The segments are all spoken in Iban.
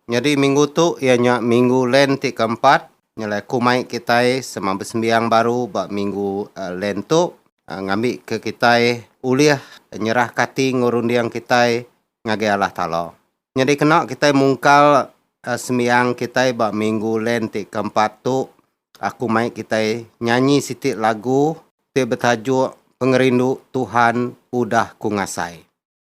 Nyadi minggu tu iya nya minggu Lent ti keempat nyelai kumai kitai sema besembiang baru ba minggu Lent tu ngambika kitai ulih nyerahka ati enggau runding kitai ngagai Allah Taala. Nyadi kena kitai mungkal sembiang kitai ba minggu Lent ti keempat tu aku mai kitai nyanyi siti lagu ti betajuk Pengerindu Tuhan Udah Ku Ngasai.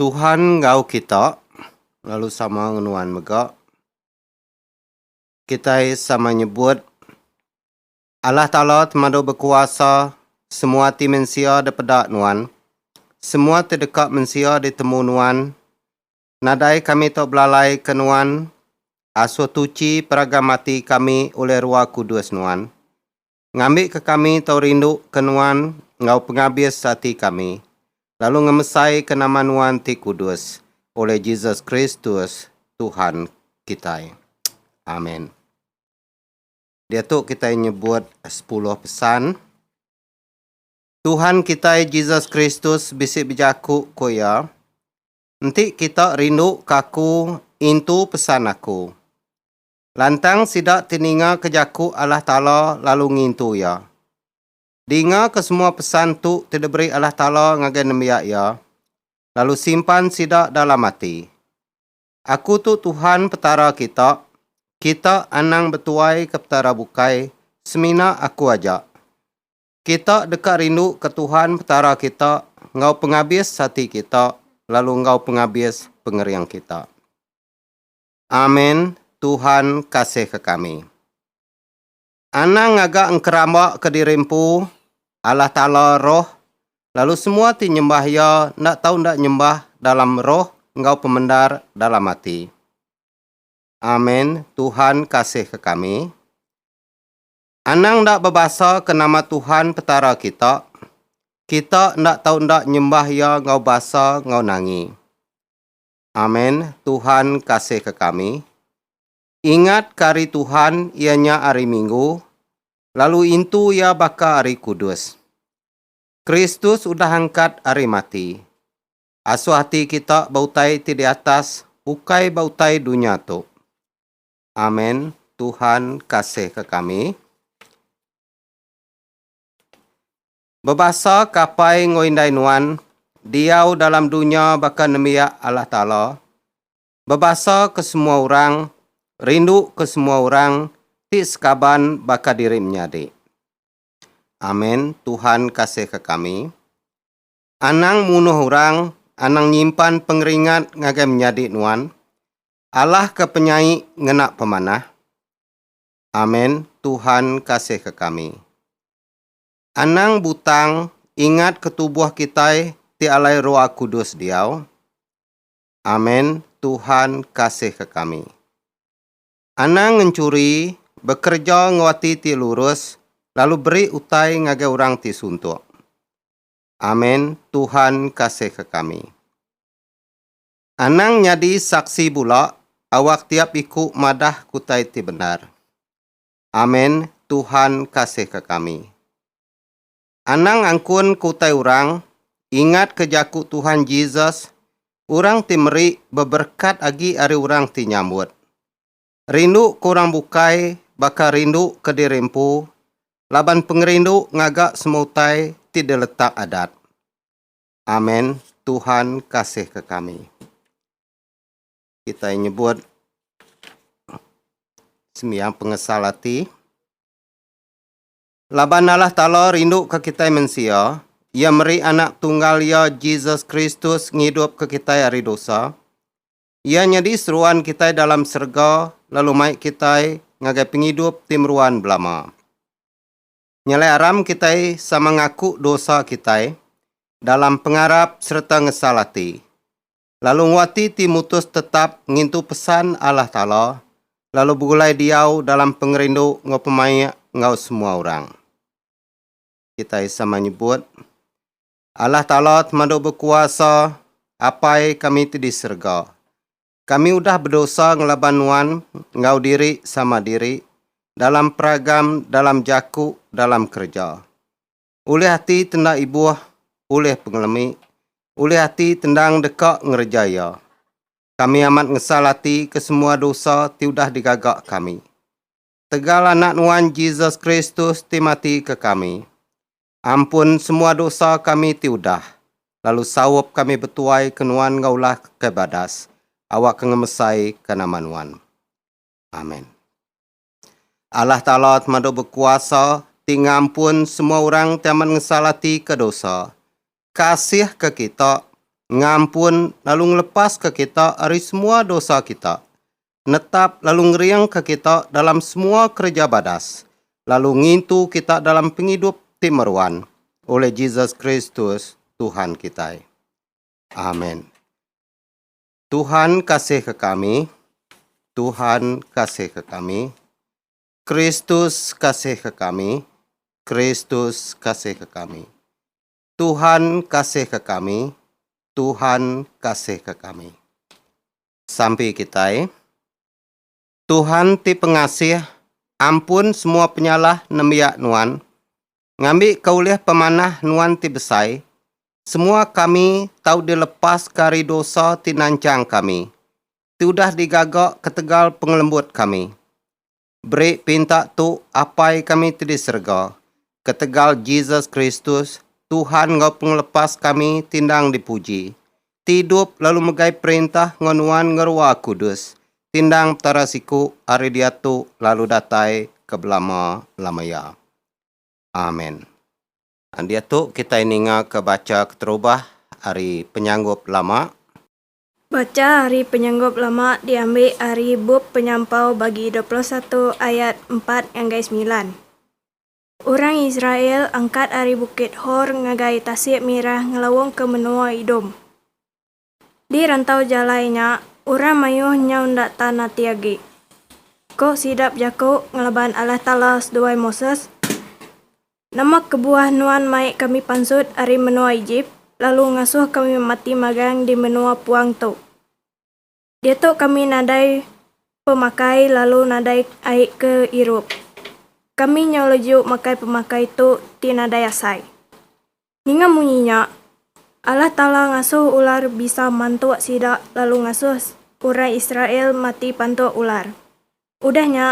Tuhan enggau kita lalu sama ngenuan mega. Kitai sama nyebut Allah Taala temadu bekuasa semua ati mensia depeda nuan. Semua ti deka mensia ditemu nuan. Nadai kami tu belalai ke nuan asuh tuchi peragam ati kami ulih rua kudus nuan. ngambika kami tau rinduka Nuan enggau pengabis ati kami, lalu ngemesaika nama Nuan ti kudus, ulih Jesus Kristus, Tuhan kitai. Amen. Diatu kitai nyebut sepuluh pesan. Tuhan kitai Jesus Kristus bisi bejaku ku iya, Enti kita rinduka aku, intu pesan aku. Lantang sida teningaka jaku Allah Taala lalu ngintu Iya. Dingaka semua pesan tu ti diberi Allah Taala ngagai nembiak Iya, lalu simpan sida dalam ati. Aku tu Tuhan Petara kita, kita anang betuaika petara bukai, semina Aku aja. Kita deka rinduka Tuhan Petara kita enggau pengabis ati kita lalu enggau pengabis pengering kita. Amen Tuhan kasihka kami. Anang ngaga engkeramba ke diri empu, Allah Taala Roh, lalu semua ti nyembah Iya enda tau enda nyembah dalam roh enggau pemendar dalam ati. Amen Tuhan kasihka kami. Anang enda bebasa ke nama Tuhan Petara kita, kita enda tau enda nyembah Iya enggau basa enggau nangi. Amen Tuhan kasihka kami. Ingat ka ari Tuhan iya nya ari minggu lalu intu iya baka ari kudus. Kristus udah angkat ari mati. Asuh ati kita ba utai ti di atas ukai ba utai dunya tu. Amen Tuhan kasihka kami. Bebasa ke apai enggau indai nuan diau dalam dunya baka nembiak Allah Taala, bebasa ke semua orang, rindu ke semua orang ti sekaban baka diri menyadi. Amen Tuhan kasihka kami. Anang munuh orang, anang nyimpan pengeringat ngagai menyadi nuan. Allah ke penyai ngena pemanah. Amen Tuhan kasihka kami. Anang butang ingat ke tubuh kitai ti alai roa kudus diau. Amen Tuhan kasih ke kami. Anang ngenchuri, bekereja enggau ati ti lurus lalu beri utai ngagai orang ti suntuk. Amen Tuhan kasih ke kami. Anang nyadi saksi bula awak tiap iku madah kutai ti bendar. Amen Tuhan kasihka kami. Anang angkun ke utai orang, ingatka jaku Tuhan Jesus, Orang ti meri beberekat agi ari orang ti nyambut. Rinduka orang bukai baka rinduka diri empu laban pengerindu ngaga semua utai ti diletak Adat. Amen Tuhan kasihka kami. Kitai nyebut sembiang pengesal ati. Laban Allah Taala rinduka kitai mensia, Iya meri Anak Tunggal Iya, Jesus Kristus, ngidupka kitai ari dosa. Iya nyadi seruan kitai dalam serega lalu mai kitai ngagai pengidup ti meruan belama. Nyelai aram kitai sama ngaku dosa kitai dalam pengarap sereta ngesal ati. lalu nguati ti mutus tetap ngintu pesan Allah Taala lalu begulai diau dalam pengerindu enggau pemaik enggau semua orang. Kitai sama nyebut, Allah Taala temadu bekuasa, Apai kami ti di serega. Kami udah bedosa ngelaban Nuan enggau diri sama diri, dalam peragam, dalam jaku, dalam kereja. ulih ati tenda ibuh ulih pengelemi, ulih ati tendang deka ngereja iya. Kami amat ngesal ati ke semua dosa ti udah digaga kami. Tegal Anak Nuan Jesus Kristus ti mati ke kami, ampun semua dosa kami ti udah, lalu saup kami betuai ke Nuan enggau ulah ke badas, awakka ngemesai ka nama Nuan. Amen. Allah Taala temadu bekuasa ti ngampun semua orang ti amat ngesal ati ke dosa, kasih ke kita, ngampun lalu ngelepas ke kita ari semua dosa kita, netap lalu ngering ke kita dalam semua kereja badas, lalu ngintu kita dalam pengidup ti meruan oleh Jesus Kristus Tuhan kitai. Amen. Tuhan kasihka kami, Tuhan kasihka kami, Kristus kasihka kami, Kristus kasihka kami. Tuhan kasihka kami, Tuhan kasihka kami. Sampi kitai. Tuhan ti pengasih, ampun semua penyalah nembiak nuan, Ngambika ulih pemanah Nuan ti besai, semua kami tau dilepaska ari dosa ti nanchang kami, ti udah digaga ketegal pengelembut kami. Beri pinta tu Apai kami ti di serega, ketegal Jesus Kristus, Tuhan enggau Pengelepas kami ti endang dipuji, ti idup lalu megai perintah enggau Nuan ngeruah kudus, ti endang Petara siku ari diatu lalu datai ke belama-lama iya. Amen. Diatu kitai ningaka bacha keterubah ari penyanggup lama. Bacha ari penyanggup lama diambi ari bup Penyampau bagi dua puluh satu ayat empat ngagai semilan. Orang Israel angkat ari Bukit Hor ngagai Tasik Mirah ngelaungka menua Idom. Di rantau jalai nya, orang mayuh nyau enda tan ati agi. Ko sida bejaku ngelaban Allah Taala seduai Moses, Nama kebuah nuan mai kami pansut ari menua Ejip, lalu ngasuh kami mati magang di menua puang tu? Diatu kami nadai pemakai lalu nadai ai ke irup. Kami nyau leju makai pemakai tu ti nadai asai. Ninga munyi nya, Allah Taala ngasuh ular bisa mantuk sida lalu ngasuh orang Israel mati pantuk ular. Udah nya,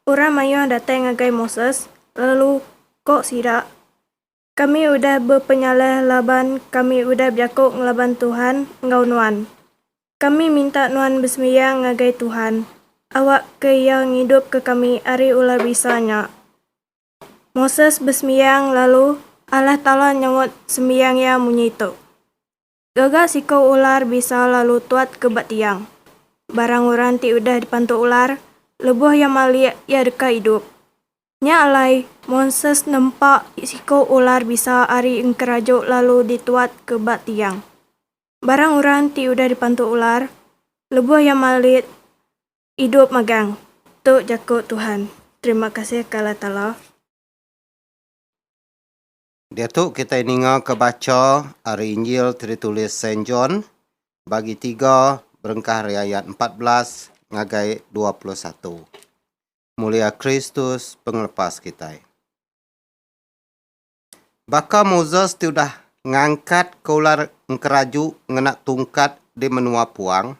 orang mayuh datai ngagai Moses lalu ko sida, Kami udah bepenyalah laban kami udah bejaku ngelaban Tuhan enggau nuan. Kami minta nuan besembiang ngagai Tuhan, awakka Iya ngidupka kami ari ular bisa nya. Moses besembiang lalu Allah Taala nyaut sembiang iya munyi tu. Gaga siko ular bisa lalu tuat ke ba tiang. Barang orang ti udah dipantu ular, leboh iya malik iya deka idup. Nya alai, Moses nempa siko ular bisa ari engkeraju lalu dituat ke ba tiang. Barang orang ti udah dipantu ular, leboh iya malik Idup magang. Tu jaku Tuhan. Terima kasih ke Allah Taala. Diatu kitai ningaka bacha ari Injil ti ditulis Saint John, Bagi tiga berengkah ari ayat empat belas ngagai dua puluh satu. Mulia Kristus pengelepas kitai. Baka Moses ti udah ngangkatka ular engkeraju ngena tungkat di menua puang,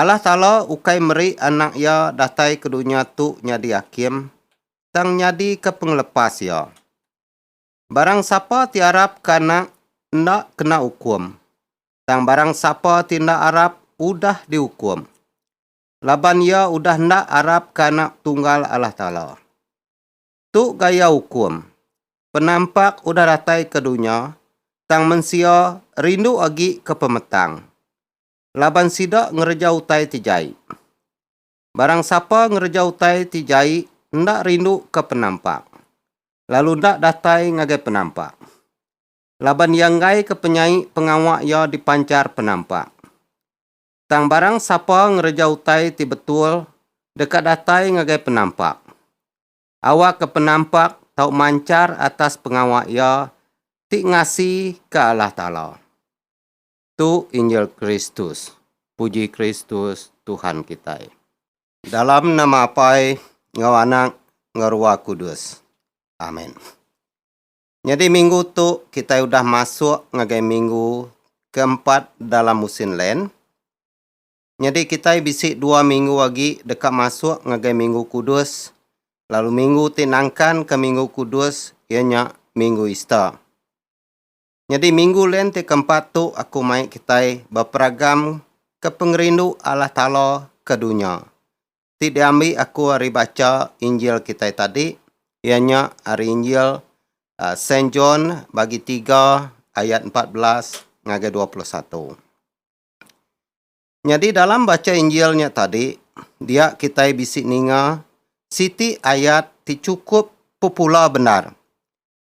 Allah Taala ukai meri Anak Iya datai ke dunya tu nyadi hakim, tang nyadika pengelepas Iya. Barang sapa ti arapka Anak enda kena ukum, tang barang sapa ti enda arap udah diukum, laban iya udah enda arapka Anak Tunggal Allah Taala. Tu gaya ukum, Penampak udah datai ke dunya, tang mensia rindu agi ke pemetang. laban sida ngereja utai ti jai. Barang sapa ngereja utai ti jai enda rinduka penampak, lalu enda datai ngagai penampak, laban iya enggaika penyai pengawa iya dipanchar penampak. Tang barang sapa ngereja utai ti betul deka datai ngagai penampak, awakka penampak tau manchar atas pengawa iya ti ngasika Allah Taala. Tu injil Kristus. Puji Kristus Tuhan kitai. Dalam nama Apai enggau Anak enggau Ruah Kudus. Amen. Nyadi minggu tu kitai udah masuk ngagai minggu keempat dalam musin Lent. Nyadi kitai bisi dua minggu agi deka masuk ngagai Minggu Kudus lalu minggu ti nangkanka Minggu Kudus iya nya Minggu Easter. Nyadi minggu lent ti keempat tu aku mai kitai beperagam ke pengerindu Allah Taala ke dunya. Ti diambi aku ari bacha Injil kitai tadi iya nya ari Injil aa Saint John bagi tiga ayat empat belas ngagai dua puluh satu. Nyadi dalam bacha Injil nya tadi dia kitai bisi ninga siti ayat ti chukup popular bendar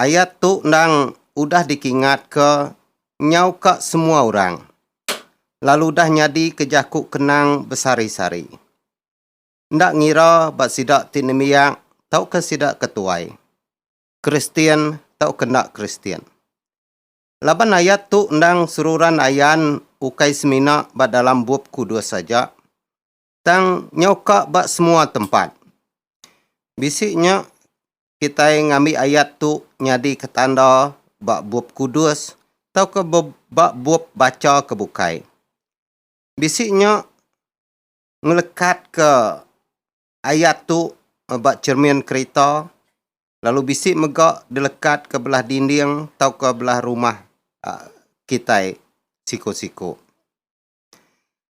ayat tu endang udah dikingatka nyauka semua orang, lalu udah nyadi ke jaku kenang besari-sari. Enda ngira ba sida ti nembiak tauka sida ke tuai, Kristian tauka enda Kristian. Laban ayat tu endang seruran ayan ukai semina ba dalam Bup Kudus aja, Tang nyau ka ba semua tempat. Bisi nya kitai ngambi ayat tu nyadika tanda ba Bup Kudus tauka ba bup bacha ke bukai. Bisi nya ngelekatka ayat tu ba chermin kerita lalu bisi mega dilekatka belah dinding tauka belah rumah kitai siku-siku.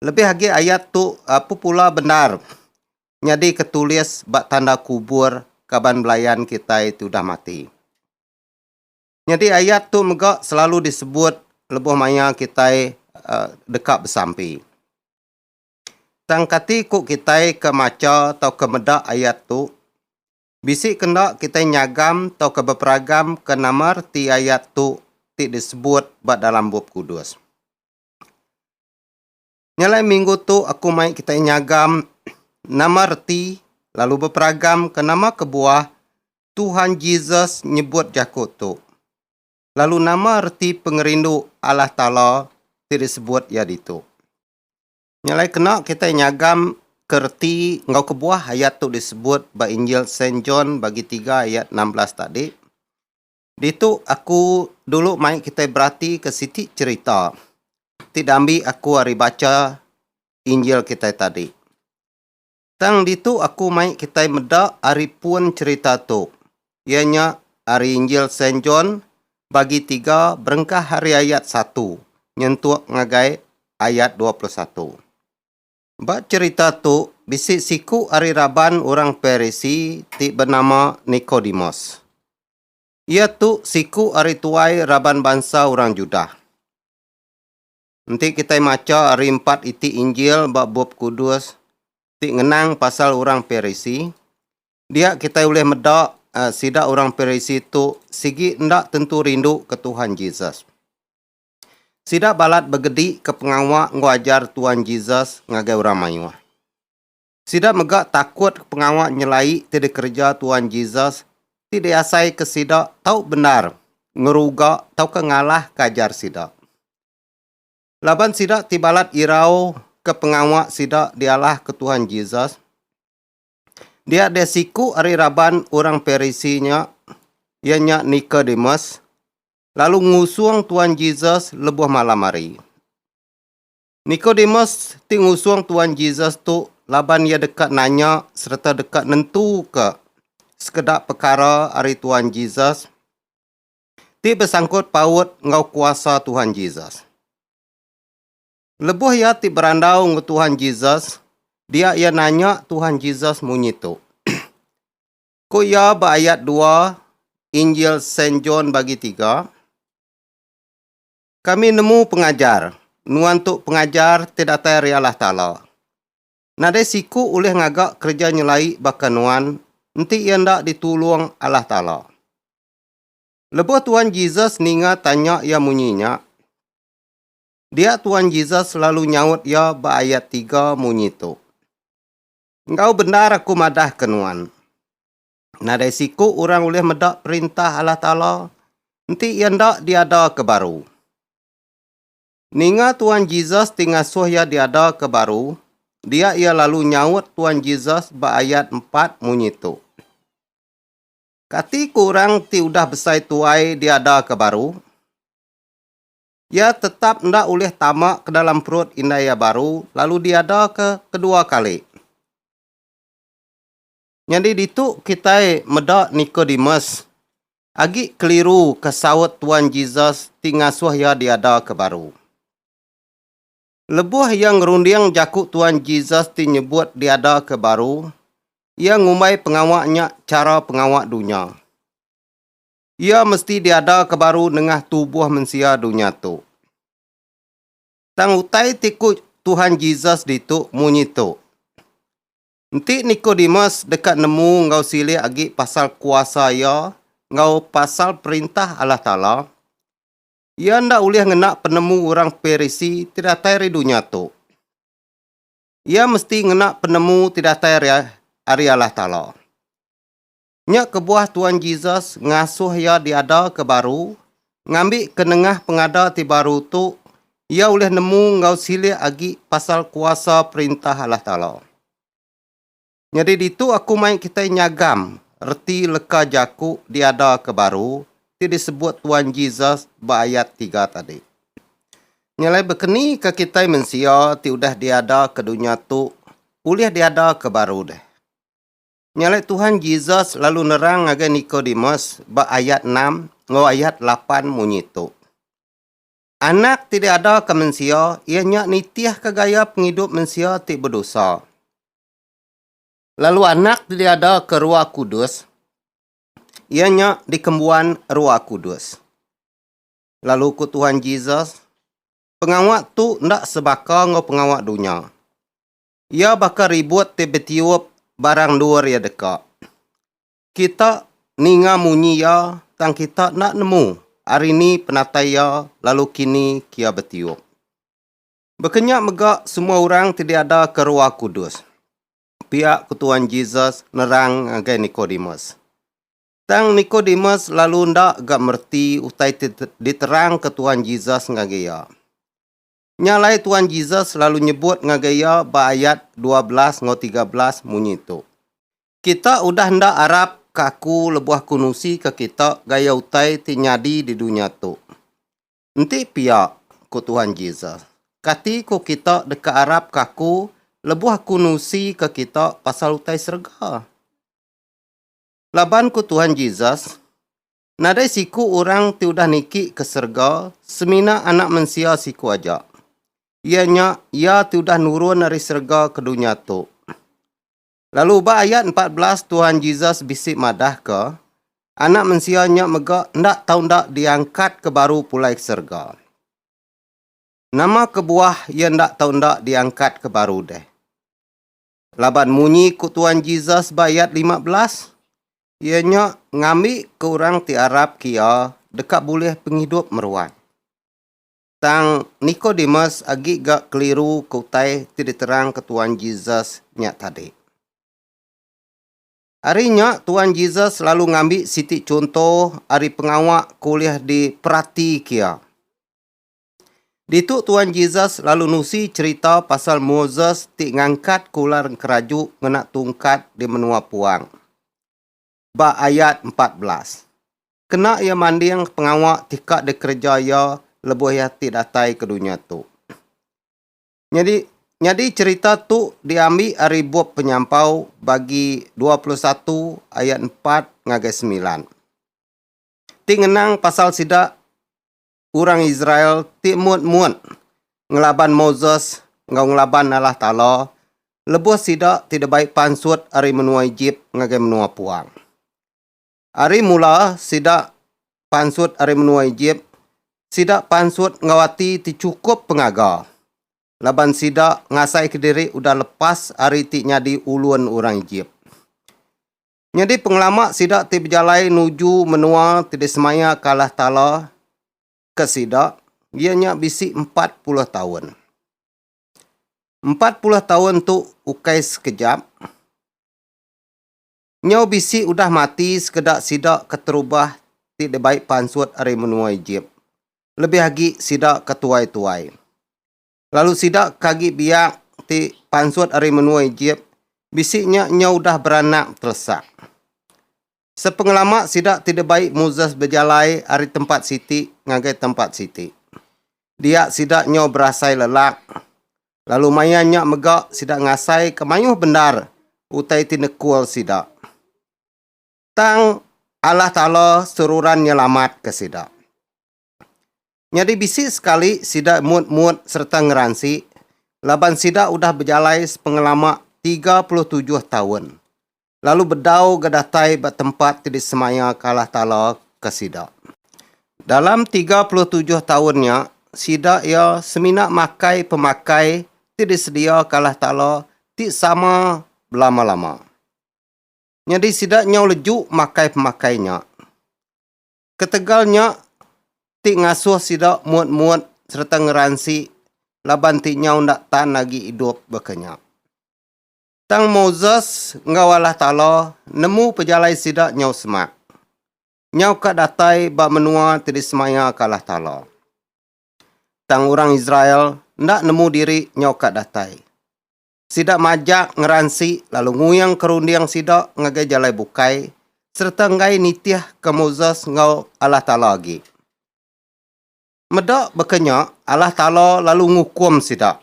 Lebih agi ayat tu popular bendar nyadika tulis ba tanda kubur kaban belayan kitai ti udah mati. Nyadi ayat tu mega selalu disebut lebuh maya kitai aaa deka besampi. Tang kati ku kitai ke macha tauka meda ayat tu? Bisi ke enda kitai nyagam tauka beperagam ke nama reti ayat tu ti disebut ba dalam Bup Kudus. Nya alai minggu tu aku mai kitai nyagam nama reti lalu beperagam ke nama kebuah Tuhan Jesus nyebut jaku tu. Lalu nama reti pengerindu Allah Taala ti disebut iya ditu. Nya alai kena kitai nyagam ke reti enggau kebuah ayat tu disebut ba Injil Saint John bagi tiga ayat enam belas tadi. Ditu aku dulu mai kitai beratika siti cherita ti dambi aku ari bacha Injil kitai tadi. Tang ditu aku mai kitai meda ari pun cherita tu, iya nya ari Injil Saint John bagi tiga berengkah ari ayat satu nyentuk ngagai ayat dua puluh satu. Ba cherita tu, bisi siku ari raban orang Parisi ti benama Nikodemus. Iya tu siku ari tuai raban bansa orang Judah. Enti kitai macha ari empat iti Injil ba Bup Kudus ti ngenang pasal orang Parisi, dia kitai ulih meda sida orang Parisi tu sigi enda tentu rinduka Tuhan Jesus. Sida balat begedika pengawa enggau ajar Tuan Jesus ngagai orang mayuh. Sida mega takutka pengawa nyelai ti dikereja Tuan Jesus ti diasaika sida tau bendar ngeruga tauka ngalahka ajar sida. Laban sida ti balat irauka pengawa sida dialahka Tuan Jesus, Dia deh siku ari raban orang Parisi nya, iya nya Nikodemus, lalu ngusung Tuan Jesus lebuh malam hari. Nikodemus ti ngusung Tuan Jesus tu laban iya deka nanya sereta deka nentuka sekeda pekara ari Tuan Jesus ti besangkut paut enggau kuasa Tuan Jesus. Lebuh iya ti berandau enggau Tuhan Jesus, dia iya nanya Tuhan Jesus munyi tu. Ku iya ba ayat dua Injil Saint John bagi tiga, Kami nemu pengajar, nuan tu pengajar ti datai ari Allah Taala. Nadai siku ulih ngaga kereja nyelai baka nuan enti iya enda ditulung Allah Taala. Lebuh Tuhan Jesus ninga tanya iya munyi nya, Dia Tuan Jesus lalu nyaut iya ba ayat tiga munyi tu, Enggau bendar aku madahka nuan, nadai siku orang ulih meda Perintah Allah Taala enti iya enda diadaka baru. Ninga Tuan Jesus ti ngasuh iya diadaka baru, dia iya lalu nyaut Tuan Jesus ba ayat empat munyi tu, Kati ku orang ti udah besai tuai diadaka baru? Iya tetap enda ulih tama ke dalam perut indai iya baru lalu diadaka kedua kali. Nyadi ditu kitai meda Nikodemus agi keliru ke saut Tuan Jesus ti ngasuh iya diada ke baru. Lebuh iya ngerunding jaku Tuan Jesus ti nyebut diada ke baru, iya ngumbai pengawa nya chara pengawa dunya. Iya mesti diadaka baru nengah tubuh mensia dunya tu. Tang utai ti ku Tuhan Jesus ditu munyi tu, Enti Nikodemus deka nemu enggau silik agi pasal kuasa iya enggau pasal Perintah Allah Taala, iya enda ulih ngena penemu orang Parisi ti datai ari dunya tu. Iya mesti ngena penemu ti datai ari Allah Taala. Nya kebuah Tuan Jesus ngasuh iya diada ke baru, ngambi ke nengah pengada ti baru tu iya ulih nemu enggau silik agi pasal kuasa Perintah Allah Taala. Nyadi ditu aku mai kitai nyagam reti leka jaku diada ke baru ti disebut Tuan Jesus ba ayat tiga tadi. Nya alai bekeni ka kitai mensia ti udah diada ke dunya tu ulih diada ke baru deh. Nya alai Tuhan Jesus lalu nerang ngagai Nikodemus ba ayat enam enggau ayat lapan munyi tu, Anak ti diadaka mensia iya nya nitihka gaya pengidup mensia ti bedosa, lalu Anak ti diadaka Roh Kudus iya nya dikembuan Roh Kudus. Lalu ku Tuhan Jesus, Pengawa tu enda sebaka enggau pengawa dunya. Iya baka ribut ti betiup barang endur iya deka. Kita ninga munyi iya tang kita enda nemu ari ni penatai iya lalu kini kia betiup. Bekenya mega semua orang ti diadaka Roh Kudus, pia ku Tuan Jesus nerang ngagai Nikodemus. Tang Nikodemus lalu enda ga mereti utai ti diterangka Tuan Jesus ngagai iya. Nya alai Tuan Jesus lalu nyebut ngagai iya ba ayat dua belas enggau tiga belas munyi tu, Kita udah enda arap ke aku lebuh aku nusika kita gaya utai ti nyadi di dunya tu. Enti pia, ku Tuan Jesus, kati ku kita deka arap ke aku lebuh aku nusika kita pasal utai serega? Laban ku Tuan Jesus, Nadai siku orang ti udah niki ke serega semina Anak Mensia siku aja, iya nya iya ti udah nurun ari serega ke dunya tu. Lalu ba ayat empat belas Tuhan Jesus bisi madahka, Anak Mensia nya mega enda tau enda diangkatka baru pulai ke serega. Nama kebuah iya enda tau enda diangkatka baru deh? Laban munyi ku Tuan Jesus ba ayat lima belas, Iya nya ngambika orang ti arapka Iya deka bulih pengidup meruan. Tang Nikodemus agi ga keliruka utai ti diterangka Tuan Jesus nya tadi. Ari nya, Tuan Jesus lalu ngambi siti chunto ari pengawa ke ulih diperatika Iya. Ditu Tuan Jesus lalu nusi cherita pasal Moses ti ngangkat ke ular enkeraju ngena tungkat di menua puang. Ba ayat empat belas. Kena iya manding pengawa ti ka dikereja iya lebuh iya ti datai ke dunya tu. Nyadi nyadi cherita tu diambi ari bup Penyampau bagi dua puluh satu ayat empat ngagai semilan. Ti ngenang pasal sida orang Israel ti mut-mut ngelaban Moses enggau ngelaban Allah Taala lebuh sida ti dibai pansut ari menua Ejip ngagai menua puang. Ari mula sida pansut ari menua Ejip, sida pansut enggau ati ti chukup pengaga laban sida ngasaika diri udah lepas ari ti nyadi ulun orang Ejip. Nyadi pengelama sida ti bejalai nuju menua ti disemayaka Allah Taala ke sida iya nya bisi empat puluh taun. Empat puluh taun tu ukai sekejap. Nyau bisi udah mati sekeda sida keterubah ti dibai pansut ari menua Ejip, lebih agi sida ke tuai-tuai. lalu sida ke agi biak ti pansut ari menua Ejip bisi nya nyau udah beranak telesa. Sepengelama sida ti dibai Moses bejalai ari tempat siti ngagai tempat siti. Dia sida nyau berasai lelak, lalu maya nya mega sida ngasaika mayuh bendar utai ti nekul sida. Tang Allah Taala seruran nyelamatka sida. Nyadi bisi sekali sida mut-mut sereta ngeransi laban sida udah bejalai sepengelama tiga puluh tujuh taun lalu bedau ga datai ba tempat ti disemayaka Allah Taala ke sida. Dalam tiga puluh tujuh taun nya, sida iya semina makai pemakai ti disediaka Allah Taala ti sama belama-lama. Nyadi sida nyau leju makai pemakai nya. Ketegal nya ti ngasuh sida muat-muat sereta ngeransi laban ti nyau enda tan agi idup baka nya. Tang Moses enggau Allah Taala nemu pejalai sida nyau semak. Nyau ka datai ba menua ti disemayaka Allah Taala. Tang orang Israel enda nemu diri nyau ka datai. Sida majak, ngeransi, lalu nguing ke runding sida ngagai jalai bukai sereta enggai nitih ke Moses enggau Allah Taala agi. Meda baka nya, Allah Taala lalu ngukum sida,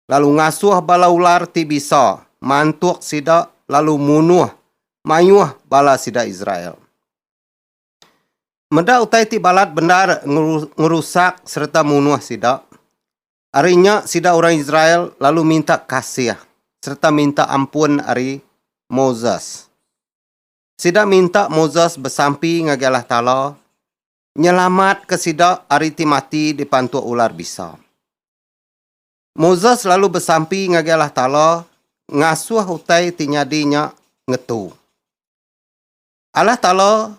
lalu ngasuh bala ular ti bisa mantuk sida lalu munuh mayuh bala sida Israel. Meda utai ti balat bendar ngerusak sereta munuh sida, Ari nya sida orang Israel lalu minta kasih sereta minta ampun ari Moses. Sida minta Moses besampi ngagai Allah Taala nyelamatka sida ari ti mati dipantuk ular bisa. Moses lalu besampi ngagai Allah Taala ngasuh utai ti nyadi nya ngetu. Allah Taala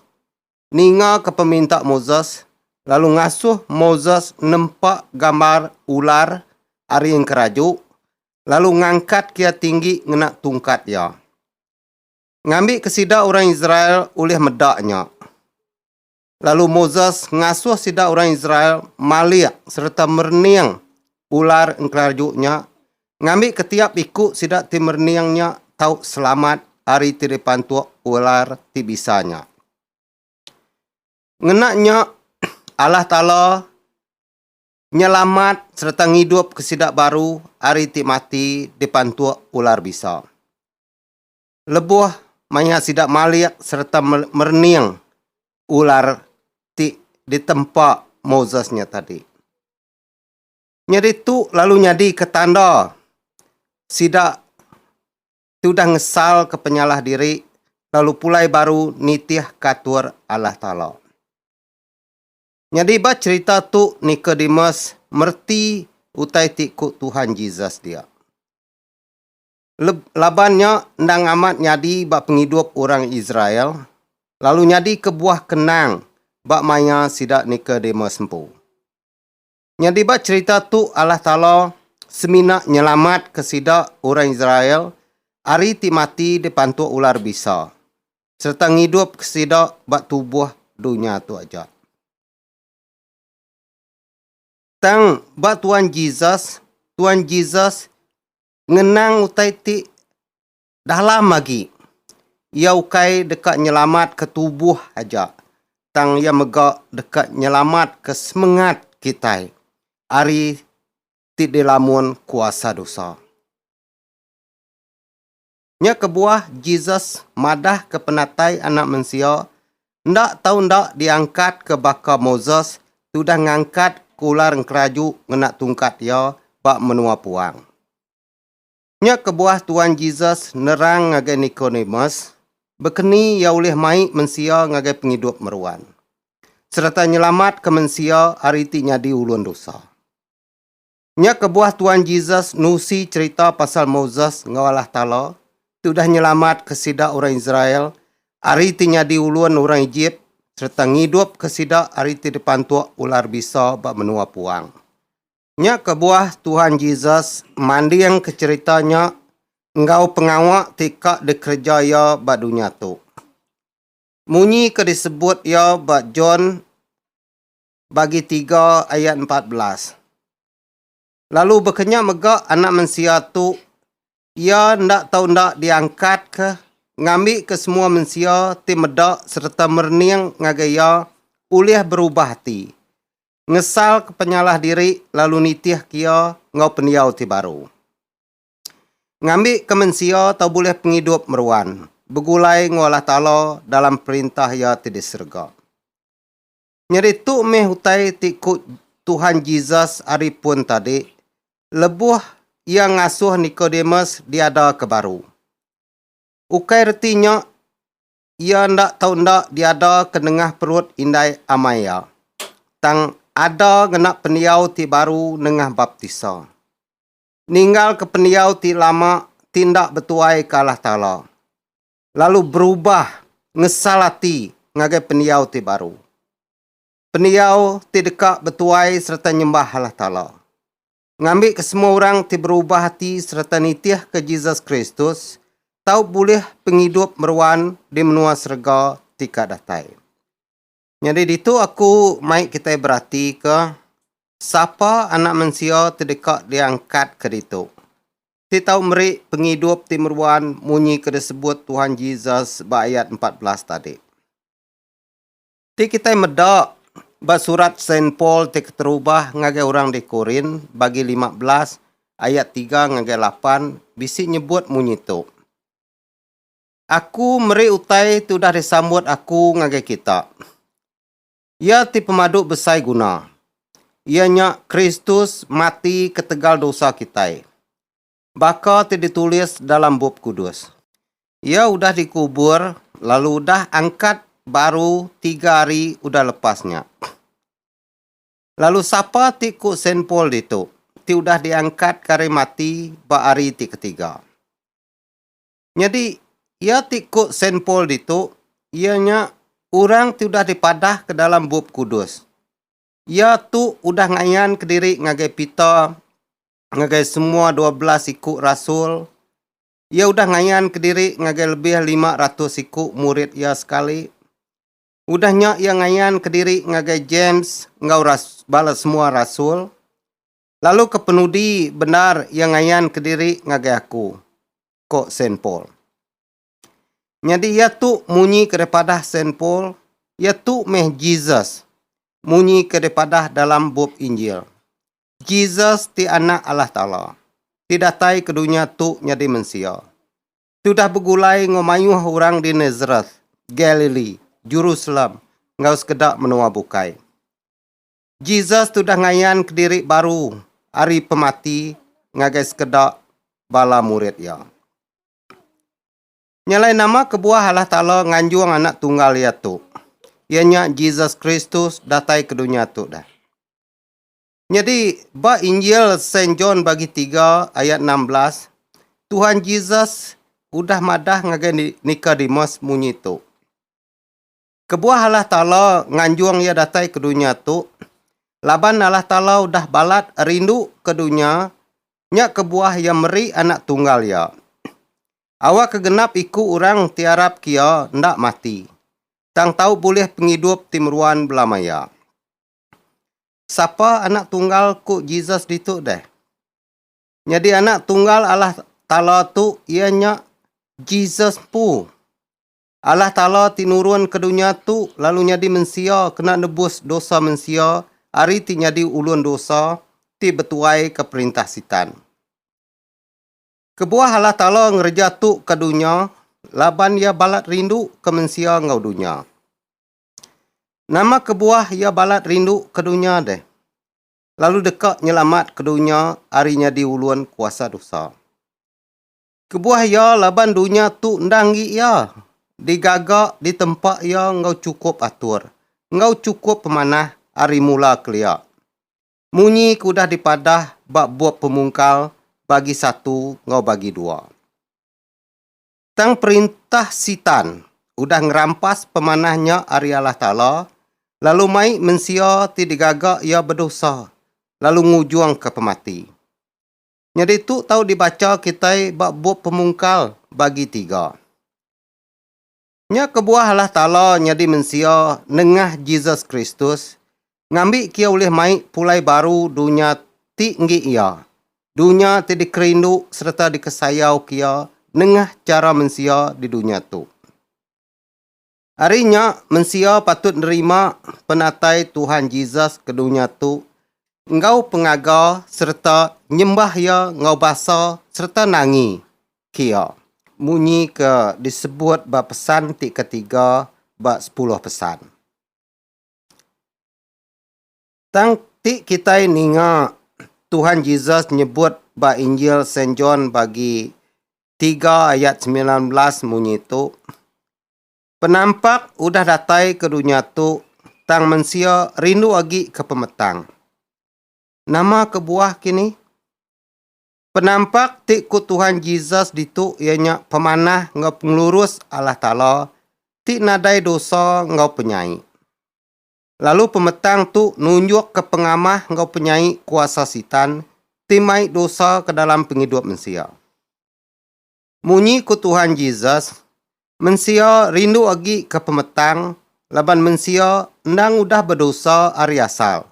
ningaka peminta Moses lalu ngasuh Moses nempa gambar ular ari enkeraju lalu ngangkatka iya tinggi ngena tungkat iya. Ngambika sida orang Israel ulih meda nya. Lalu Moses ngasuh sida orang Israel malik sereta merening ular engkelarju nya, ngambika tiap iku sida ti merening nya tau selamat ari ti dipantuk ular ti bisa nya. Ngena nya, Allah Taala nyelamat sereta ngidupka sida baru ari ti mati dipantuk ular bisa. lebuh maya sida malik sereta merening ular ti ditempa Moses nya tadi. Nyadi tu lalu nyadika tanda sida ti udah ngesalka penyalah diri lalu pulai baru nitihka atur Allah Taala. Nyadi ba cherita tu Nikodemus mereti utai ti ku Tuhan Jesus dia. Laban nya endang amat nyadi ba pengidup orang Israel, lalu nyadi kebuah kenang ba maya sida Nikodemus empu. Nyadi ba cherita tu Allah Taala semina nyelamatka sida orang Israel ari ti mati dipantuk ular bisa, sereta ngidupka sida ba tubuh dunya tu aja. Tang ba Tuan Jesus, Tuan Jesus ngenang utai ti dalam agi. Iya ukai deka nyelamatka tubuh aja, tang iya mega deka nyelamatka semengat kitai ari ti dilamun kuasa dosa. Nya kebuah Jesus madahka penatai Anak Mensia enda tau enda diangkatka baka Moses tudah ngangkatka ular enkeraju ngena tungkat iya ba menua puang. Nya kebuah Tuan Jesus nerang ngagai Nikodemus bekeni iya ulih mai mensia ngagai pengidup meruan sereta nyelamatka mensia ari ti nyadi ulun dusa. Nya kebuah Tuan Jesus nusi cherita pasal Moses enggau Allah Taala ti udah nyelamatka sida orang Israel ari ti nyadi ulun orang Ejip sereta ngidupka sida ari ti dipantuk ular bisa ba menua puang. Nya kebuah Tuhan Jesus mandingka cherita nya enggau pengawa ti ka dikereja iya ba dunya tu. Munyi ke disebut iya ba John bagi tiga ayat empat belas. Lalu bekenya mega anak mensia tu iya enda tau enda diangkat ke ngambi ke semua mensia ti meda sereta merening ngagai iya ulih berubah ati, ngesal ke penyalah diri lalu nitih ke iya enggau pendiau ti baru. Ngambi ke mensia tau bulih pengidup meruan begulai enggau Allah Taala dalam perintah iya ti di serega. Nyadi tu meh utai ti ku Tuhan Jesus ari pun tadi lebuh iya ngasuh Nikodemus diada ke baru. Ukai reti nya iya enda tau enda diada ke nengah perut indai amai iya, tang ada ngena pendiau ti baru nengah baptisa. Ninggalka pendiau ti lama ti enda betuai ke Allah Taala. lalu berubah ngesal ati ngagai pendiau ti baru. Pendiau ti deka betuai sereta nyembah Allah Taala. Ngambika semua orang ti berubah ati sereta nitihka Jesus Kristus tau bulih pengidup meruan di menua serega ti ka datai. Nyadi ditu aku mai kitai beratika sapa Anak Mensia ti deka diangkatka ditu. Ti tau meri pengidup ti meruan munyi ke disebut Tuhan Jesus ba ayat empat belas tadi. Ti kitai meda ba surat Saint Paul ti keterubah ngagai orang di Korin bagi lima belas ayat tiga ngagai lapan bisi nyebut munyi tu. Aku meri utai ti udah disambut aku ngagai kita. Iya ti pemadu besai guna, iya nya Kristus mati ketegal dosa kitai, baka ti ditulis dalam Bup Kudus. Iya udah dikubur lalu udah angkat baru tiga hari udah lepas nya. Lalu sapa ti ku Saint Paul ditu, ti udah diangkatka ari mati ba hari ti ketiga. Nyadi, iya ti ku Saint Paul ditu iya nya orang ti udah dipadah ke dalam Bup Kudus. Iya tu udah ngayan kediri ngagai Peter ngagai semua dua belas iku rasul. Iya udah ngayan kediri ngagai lebih lima ratus iku murid iya sekali. Udah nya iya ngayan kediri ngagai James enggau bala semua rasul. Lalu kepenudi bendar iya ngayan kediri ngagai aku, ko Saint Paul. Nyadi iya tu munyi ke daripadah Saint Paul, iya tu meh Jesus munyi ke daripadah dalam bup Injil. Jesus ti Anak Allah Taala, ti datai ke dunya tu nyadi mensia. Tudah begulai enggau mayuh orang di Nazareth, Galilee, Jerusalem enggau sekeda menua bukai. Jesus tudah ngayan kediri baru ari pemati ngagai sekeda bala murid iya. Nya alai nama kebuah Allah Taala nganjung Anak Tunggal iya tu, iya nya Jesus Kristus datai ke dunya tu dah. Nyadi, ba Injil Saint John bagi tiga ayat enam belas, Tuhan Jesus udah madah ngagai Nikodemus munyi tu. Kebuah Allah Taala nganjung iya datai ke dunya tu, laban Allah Taala udah balat rindu ke dunya nya kebuah iya meri Anak Tunggal iya, awakka genap iku orang ti arapka iya enda mati, tang tau bulih pengidup ti meruan belama iya. Sapa Anak Tunggal ku Jesus ditu deh? Nyadi Anak Tunggal Allah Taala tu iya nya Jesus empu. Allah Taala ti nurun ke dunya tu lalu nyadi mensia kena nebus dosa mensia ari ti nyadi ulun dosa ti betuaika perintah Sitan. Kebuah Allah Taala ngereja tu ke dunya laban Iya balat rinduka mensia enggau dunya. Nama kebuah Iya balat rinduka dunya deh, lalu deka nyelamatka dunya ari nyadi ulun kuasa dosa? Kebuah iya laban dunya tu enda enggi iya digaga ditempa iya enggau chukup atur enggau chukup pemanah ari mula kelia. Munyi ke udah dipadah ba bup Pemungkal bagi satu enggau bagi dua. Tang perintah Sitan udah ngerampas pemanah nya ari Allah Taala lalu mai mensia ti digaga iya bedosa lalu ngujungka pemati. Nyadi tu tau dibacha kitai ba bup Pemungkal bagi tiga. Nya kebuah Allah Taala nyadi mensia nengah Jesus Kristus ngambi kia ulih mai pulai baru dunya ti enggi iya, dunya ti dikerindu sereta dikesayau kia nengah chara mensia di dunya tu. Ari nya, mensia patut nerima penatai Tuhan Jesus ke dunya tu enggau pengaga sereta nyembah iya enggau basa sereta nangi kia munyi ke disebut ba pesan ti ketiga ba Sepuluh Pesan. Tang ti kitai ninga Tuhan Jesus nyebut ba Injil Saint John bagi 3 ayat 19 munyi tu, Penampak udah datai ke dunya tu tang mensia rindu agi ke pemetang. Nama kebuah kini? Penampak ti ku Tuhan Jesus ditu iya nya pemanah enggau pengelurus Allah Taala ti nadai dosa enggau penyai. Lalu pemetang tu nunjukka pengamah enggau penyai kuasa Sitan ti mai dosa ke dalam pengidup mensia. Munyi ku Tuhan Jesus, mensia rindu agi ke pemetang laban mensia endang udah bedosa ari asal,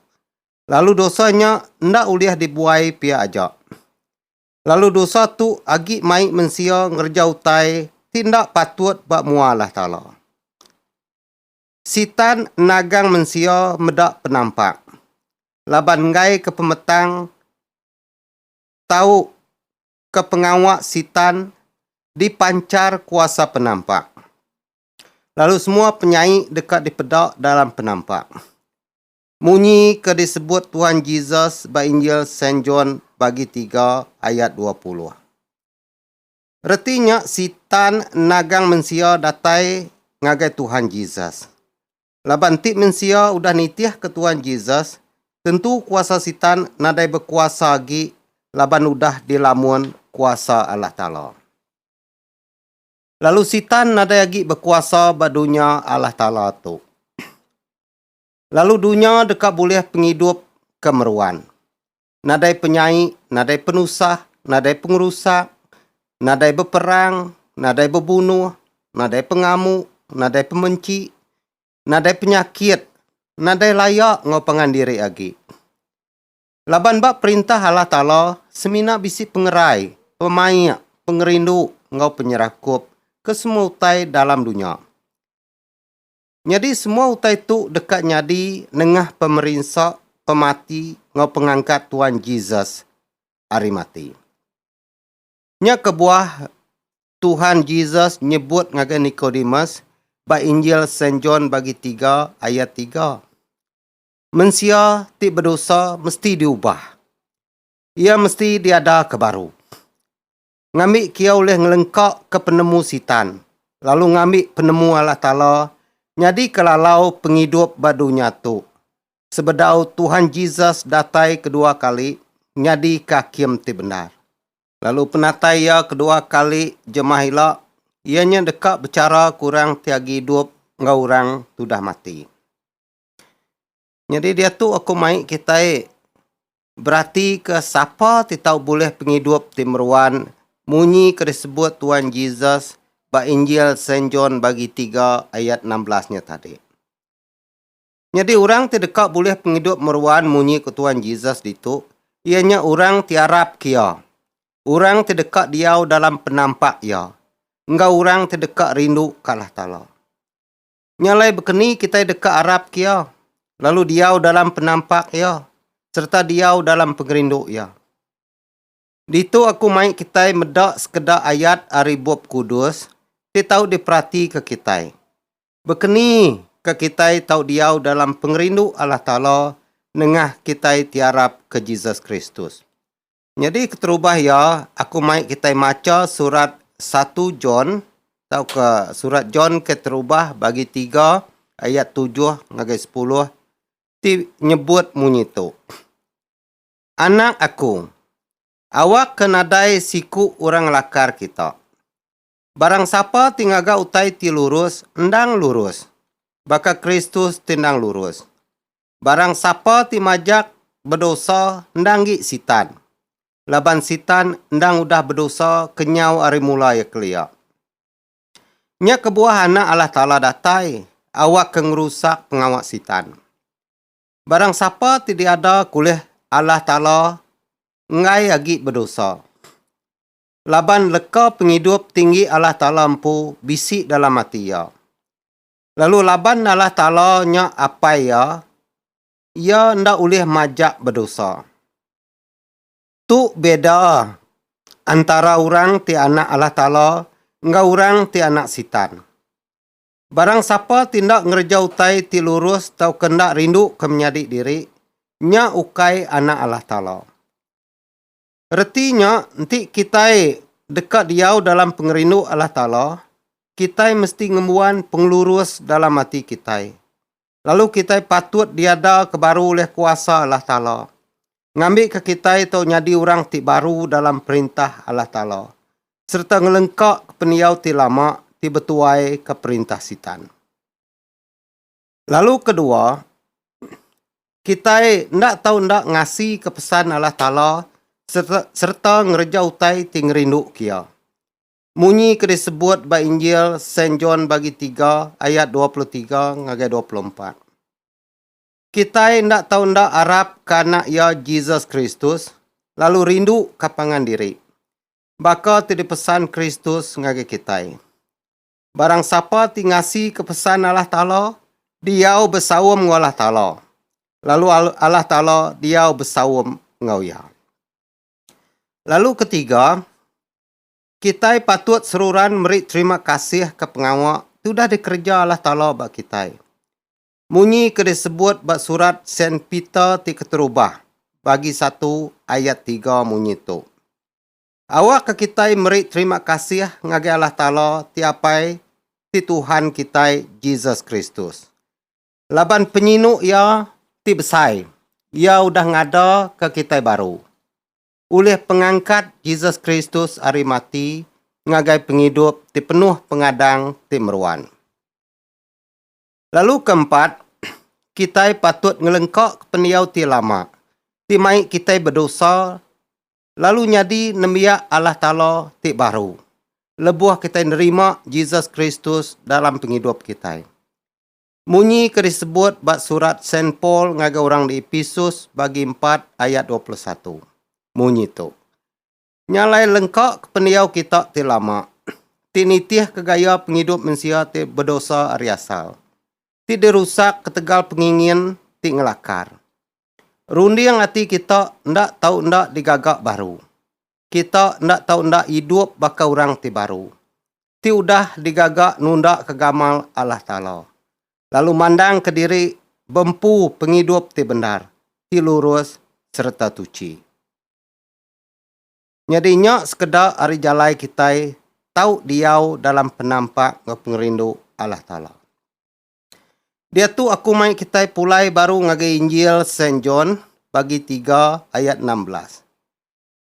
lalu dosa nya enda ulih dibuai pia aja. Lalu dosa tu agi mai mensia ngereja utai ti enda patut ba mua Allah Taala. Sitan nagang mensia meda penampak laban enggai ke pemetang tau ke pengawa Sitan dipanchar kuasa penampak, lalu semua penyai deka dipeda dalam penampak. Munyi ke disebut Tuhan Jesus ba Injil Saint John bagi tiga ayat dua puluh. Reti nya Sitan nagang mensia datai ngagai Tuhan Jesus. Laban enti mensia udah nitihka Tuhan Jesus, tentu kuasa Sitan nadai bekuasa agi laban udah dilamun kuasa Allah Taala. Lalu Sitan nadai agi bekuasa ba dunya Allah Taala tu. Lalu dunya deka bulih pengidup ke meruan. nadai penyai, nadai penusah, nadai pengerusak, nadai beperang, nadai bebunuh, nadai pengamu, nadai pemenchi, nadai penyakit, nadai laya enggau pangan diri agi. Laban ba Perintah Allah Taala semina bisi pengerai, pemaik, pengerindu enggau penyerakup ke semua utai dalam dunya. Nyadi semua utai tu deka nyadi nengah pemerinsa, pemati enggau pengangkat Tuan Jesus ari mati. Nya kebuah Tuhan Jesus nyebut ngagai Nikodemus ba Injil Saint John bagi tiga ayat tiga, Mensia ti bedosa mesti diubah. Iya mesti diadaka baru. Ngambi kia ulih ngelengkaka penemu Sitan, lalu ngambi penemu Allah Taala nyadika lalau pengidup ba dunya tu. Sebedau Tuhan Jesus datai kedua kali nyadika hakim ti bendar. Lalu penatai iya kedua kali jemah ila, iya nya deka bechara ke orang ti agi idup enggau orang ti udah mati. Nyadi diatu aku mai kitai beratika sapa ti tau bulih pengidup ti meruan munyi ke disebut Tuan Jesus ba Injil Saint John bagi tiga ayat enam belas nya tadi. Nyadi orang ti deka bulih pengidup meruan munyi ku Tuan Jesus ditu iya nya orang ti arapka iya, orang ti deka diau dalam penampak iya, enggau orang ti deka rinduka Allah Taala. Nya alai bekeni kitai deka arapka Iya, lalu diau dalam penampak Iya, sereta diau dalam pengerindu Iya. Ditu aku mai kitai meda sekeda ayat ari Bup Kudus ti tau diperatika kitai. Bekeni ka kitai tau diau dalam pengerindu Allah Taala nengah kitai ti arap ke Jesus Kristus. Nyadi keterubah iya, aku mai kitai macha surat satu John tauka surat John ke terubah bagi tiga ayat tujuh ngagai sepuluh ti nyebut munyi tu, Anak aku, awakka nadai siku orang ngelakar kita. Barang sapa ti ngaga utai ti lurus endang lurus, baka Kristus ti endang lurus. Barang sapa ti majak bedosa endang gi Sitan, laban Sitan endang udah bedosa kenyau ari mula iya kelia. Nya kebuah Anak Allah Taala datai awakka ngerusak pengawa Sitan. Barang sapa ti diada ke ulih Allah Taala enggai agi bedosa. laban leka pengidup tinggi Allah Taala empu bisi dalam ati iya. Lalu laban Allah Taala nya Apai iya, iya enda ulih majak bedosa. Tu beda antara orang ti anak Allah Taala enggau orang ti anak Sitan. Barang sapa ti enda ngereja utai ti lurus tauka enda rinduka menyadi diri, nya ukai anak Allah Taala. Reti nya, enti kitai deka diau dalam pengerindu Allah Taala, kitai mesti ngembuan pengelurus dalam ati kitai. Lalu kitai patut diadaka baru ulih kuasa Allah Taala, ngambika kitai tau nyadi orang ti baru dalam Perintah Allah Taala sereta ngelengkaka pendiau ti lama ti betuaika perintah Sitan. Lalu kedua, kitai enda tau enda ngasika pesan Allah Taala sereta ngereja utai ti ngerinduka Iya. Munyi ke disebut ba Injil Saint John bagi tiga ayat dua puluh tiga ngagai dua puluh empat. Kitai enda tau enda arapka Anak Iya Jesus Kristus lalu rinduka pangan diri, baka ti dipesan Kristus ngagai kitai. Barang sapa ti ngasika pesan Allah Taala, diau besaum enggau Allah Taala, lalu Allah Taala diau besaum enggau iya. Lalu ketiga, kitai patut seruran meri terima kasih ke pengawa ti udah dikereja Allah Taala ba kitai. Munyi ke disebut ba surat Saint Peter ti keterubah, bagi satu ayat tiga munyi tu. Awakka kitai meri terima kasih ngagai Allah Taala ti Apai ti Tuhan kitai Jesus Kristus. Laban penyinu Iya ti besai, Iya udah ngadaka kitai baru. Ulih pengangkat Jesus Kristus ari mati ngagai pengidup ti penuh pengadang ti meruan. Lalu keempat, kitai patut ngelengkaka pendiau ti lama ti mai kitai bedosa lalu nyadi nembiak Allah Taala ti baru lebuh kitai nerima Jesus Kristus dalam pengidup kitai. Munyi ke disebut ba surat Saint Paul ngagai orang di Episus bagi empat ayat dua puluh satu. Munyi tu. Nya alai lengka ke pendiau kita ti lama, ti nitih ke gaya pengidup mensia ti bedosa ari asal, ti dirusak ketegal pengingin ti ngelakar. Runding ati kita enda tau enda digaga baru. Kita enda tau enda idup baka orang ti baru, ti udah digaga nundaka gamal Allah Taala, lalu mandangka diri beempu pengidup ti bendar, ti lurus sereta tuchi. Nyadi nya sekeda ari jalai kitai tau diau dalam penampak enggau pengerindu Allah Taala. Diatu aku mai kitai pulai baru ngagai Injil Saint John bagi tiga ayat enam belas.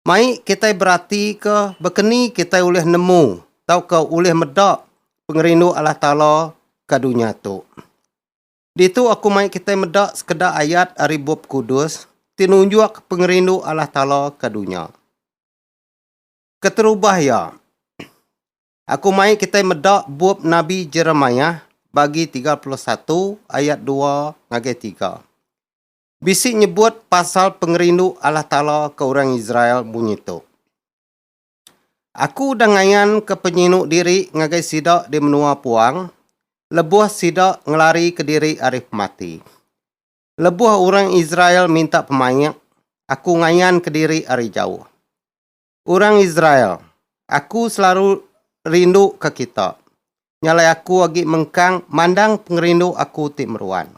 Mai kitai beratika bekeni kitai ulih nemu tauka ulih meda pengerindu Allah Taala ka dunya tu. Ditu aku mai kitai meda sekeda ayat ari Bup Kudus ti nunjuk pengerindu Allah Taala ka dunya. Keterubah iya, Aku mai kitai meda bup nabi Jeremiah bagi tiga puluh satu ayat dua ngagai tiga. Bisi nyebut pasal pengerindu Allah Taala ke orang Israel munyi tu, Aku udah ngayanka penyinu diri ngagai sida di menua puang lebuh sida ngelarika diri ari pemati. Lebuh orang Israel minta pemaik, Aku ngayanka diri ari jauh. Orang Israel, Aku selaru rinduka kita. Nya alai aku agi mengkang mandang pengerindu aku ti meruan.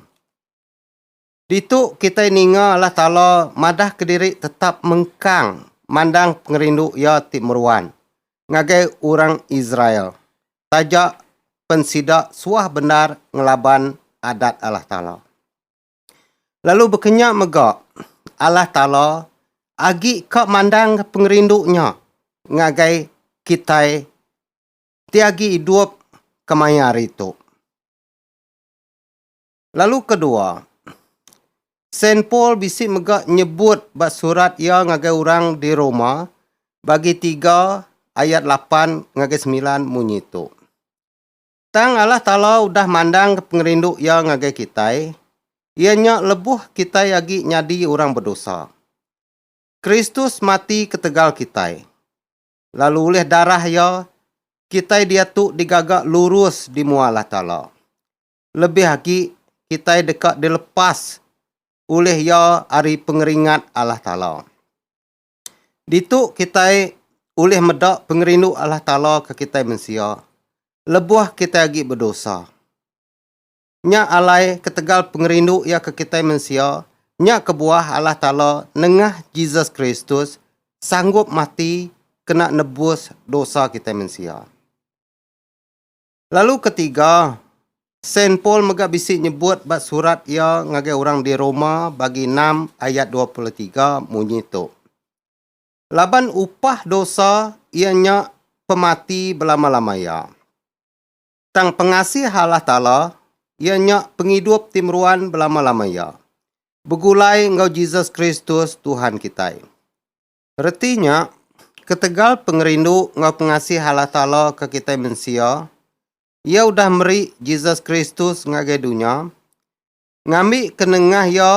Ditu kitai ninga Allah Taala madahka diri tetap mengkang mandang pengerindu Iya ti meruan ngagai orang Israel taja pen sida suah bendar ngelaban Adat Allah Taala. lalu bekenya mega Allah Taala agi ka mandang pengerindu nya ngagai kitai ti agi idup kemaya hari tu. Lalu kedua, Saint Paul bisi mega nyebut ba surat iya ngagai orang di Roma bagi tiga ayat lapan ngagai semilan munyi tu. Tang Allah Taala udah mandangka pengerindu Iya ngagai kitai, iya nya lebuh kitai agi nyadi orang bedosa. Kristus mati ketegal kitai, lalu ulih darah Iya, kitai diatu digaga lurus di mua Allah Taala. Lebih agi, kitai deka dilepas ulih Iya ari pengeringat Allah Taala. Ditu kitai ulih meda pengerindu Allah Taala ke kitai mensia lebuh kitai agi bedosa. Nya alai ketegal pengerindu iya ke kitai mensia nya kebuah Allah Taala nengah Jesus Kristus sanggup mati kena nebus dosa kitai mensia. Lalu ketiga, Saint Paul mega bisi nyebut ba surat iya ngagai orang di Roma bagi enam ayat dua puluh tiga munyi tu, Laban upah dosa iya nya pemati belama-lama iya. Tang pengasih Allah Taala iya nya pengidup ti meruan belama-lama iya, begulai enggau Jesus Kristus Tuhan kitai. Reti nya, ketegal pengerindu enggau pengasih Allah Taala ke kitai mensia, Iya udah meri Jesus Kristus ngagai dunya. Ngambika nengah Iya,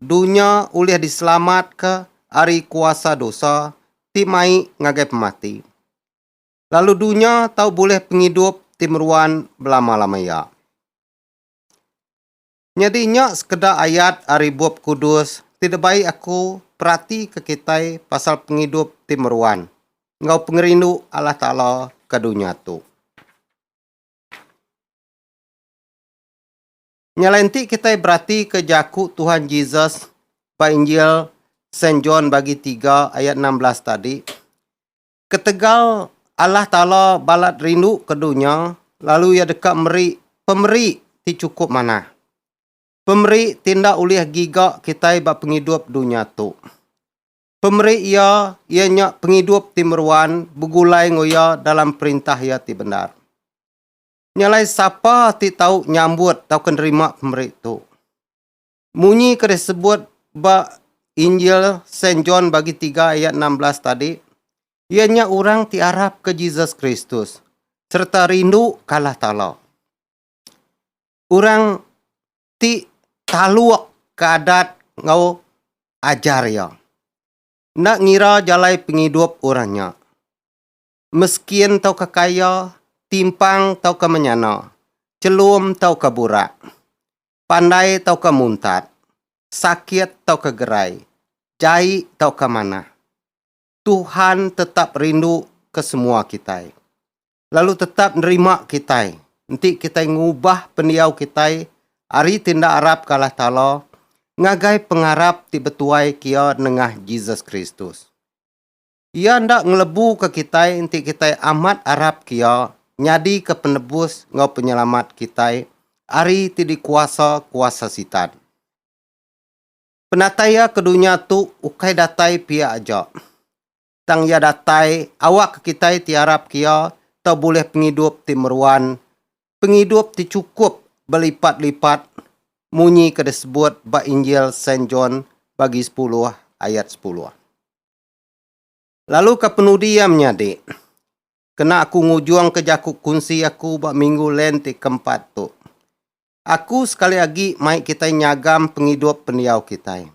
dunya ulih diselamatka ari kuasa dosa ti mai ngagai pemati. Lalu dunya tau bulih pengidup ti meruan belama-lama iya. Nyadi nya sekeda ayat ari Bup Kudus ti dibai aku peratika kitai pasal pengidup ti meruan enggau pengerindu Allah Taala ke dunya tu. Nya alai enti kitai beratika jaku Tuhan Jesus ba Injil Saint John bagi tiga ayat enam belas tadi, Ketegal Allah Taala balat rindu ke dunya lalu Iya deka meri pemeri ti chukup manah. Pemeri ti enda ulih giga kitai ba pengidup dunya tu. Pemeri Iya iya nya pengidup ti meruan begulai enggau Iya dalam perintah Iya ti bendar. Nya alai sapa ti tau nyambut tauka nerima pemeri tu? Munyi ke disebut ba Injil Saint John bagi tiga ayat enam belas tadi, iya nya orang ti arap ke Jesus Kristus sereta rindu ke Allah Taala. Orang ti taluk ke adat enggau ajar iya, enda ngira jalai pengidup orang nya. meskin tauka kaya, timpang tauka menyana, chelum tauka burak, pandai tauka muntat, sakit tauka gerai, jai tauka manah. Tuhan tetap rindu ke semua kitai, lalu tetap nerima kitai enti kitai ngubah pendiau kitai ari ti enda arap ke Allah Taala ngagai pengarap ti betuai kia nengah Jesus Kristus. Iya enda ngelebuka kitai enti kitai amat arapka Iya nyadika Penebus enggau Penyelamat kitai ari ti dikuasa kuasa Sitan. Penatai Iya ke dunya tu ukai datai pia aja, tang Iya datai awakka kitai ti arapka Iya tau bulih pengidup ti meruan, pengidup ti chukup belipat-lipat munyi ke disebut ba Injil Saint John bagi sepuluh ayat sepuluh. Lalu ka penudi iya menyadi. Kena aku ngujung ke jaku kunsi aku ba minggu Lent ti keempat tu. Aku sekali agi mai kitai nyagam pengidup pendiau kitai.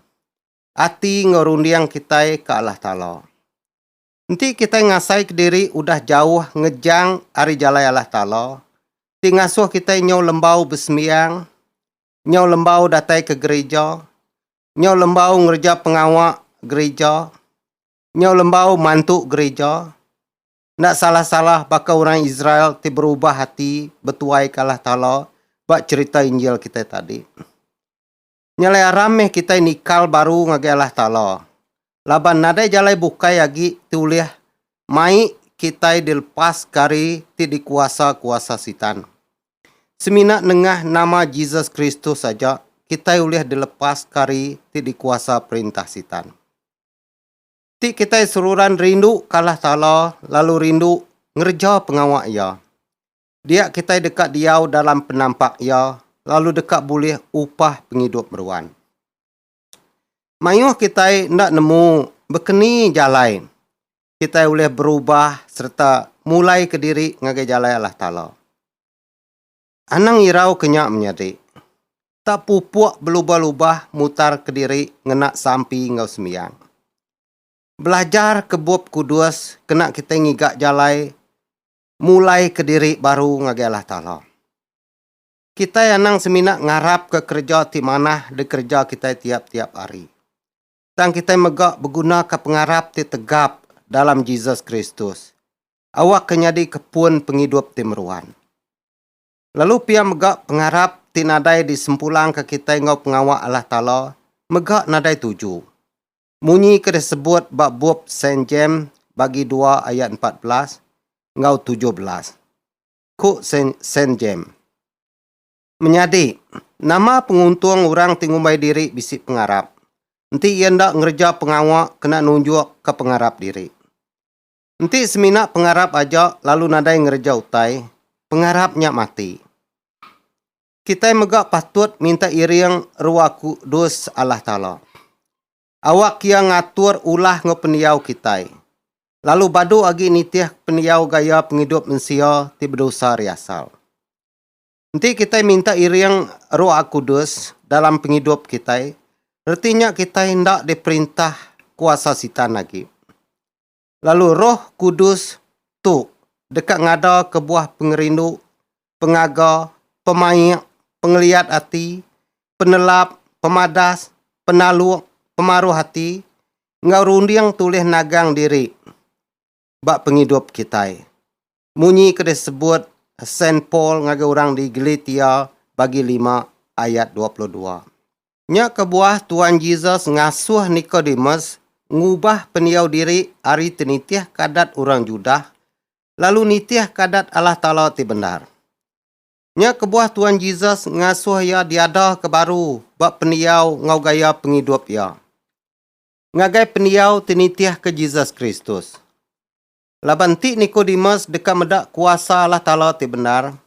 Ati enggau runding kitai ka Allah Taala. Enti kitai ngasai ke diri udah jauh ngejang ari jalai Allah Taala ti ngasuh kitai nyau lembau besembiang, nyau lembau datai ke gerija, nyau lembau ngereja pengawa gerija, nyau lembau mantu gerija, enda salah-salah baka orang Israel ti berubah ati betuaika Allah Taala ba cherita Injil kitai tadi. Nya alai aram meh kitai nikal baru ngagai Allah Taala. laban nadai jalai bukai agi ti ulih mai kitai dilepas ke ari ti dikuasa kuasa Sitan. Semina nengah nama Jesus Kristus aja kitai ulih dilepas ke ari ti dikuasa perintah Sitan. Ti kitai seruran rindu ke Allah Taala lalu rindu ngereja pengawa Iya. Dia kitai deka diau dalam penampak Iya lalu deka bulih upah pengidup meruan. Mayuh kitai enda nemu bekeni jalai kitai ulih berubah sereta mulai kediri ngagai jalai Allah Taala. Anang irau ke nya menyadi, tak pupuk belubah-lubah mutar kediri ngena sampi enggau sembiang. Belajar ke Bup Kudus kena kitai ngiga jalai mulai kediri baru ngagai Allah Taala. Kitai anang semina ngarapka kereja ti manah dikereja kitai tiap-tiap hari. Tang kitai mega begunaka pengarap ti tegap dalam Jesus Kristus awakka nyadika pun pengidup ti meruan. Lalu pia mega pengarap ti nadai disempulangka kitai enggau pengawa Allah Taala mega nadai tuju. Munyi ke disebut ba bup Saint James bagi dua ayat empat belas enggau tujuh belas. ku Sen Jem. Menyadi, nama penguntung orang ti ngumbai diri bisi pengarap, enti iya enda ngereja pengawa kena nunjukka pengarap diri? Enti semina pengarap aja lalu nadai ngereja utai, pengarap nya mati. Kitai mega patut minta iring rua kudus Allah Taala. awak iya ngatur ulah enggau pendiau kitai, lalu badu agi nitihka pendiau gaya pengidup mensia ti bedosa ari asal. Enti kitai minta iring Roh Akudus dalam pengidup kitai, reti nya kitai enda diperintah kuasa Sitan agi. Lalu Roh Kudus tu deka ngada kebuah pengerindu, pengaga, pemaik, pengeliat ati, penelap, pemadas, penaluk, pemaruh ati, enggau runding tulih nagang diri ba pengidup kitai. Munyi ke disebut Saint Paul ngagai orang di Galatia bagi lima ayat dua puluh dua. Nya kebuah Tuan Jesus ngasuh Nikodemus ngubah pendiau diri ari ti nitihka adat orang Judah lalu nitihka adat Allah Taala ti bendar. Nya kebuah Tuan Jesus ngasuh iya diadaka baru ba pendiau enggau gaya pengidup iya. Ngagai pendiau ti nitihka Jesus Kristus. Laban ti Nikodemus deka meda kuasa Allah Taala ti bendar,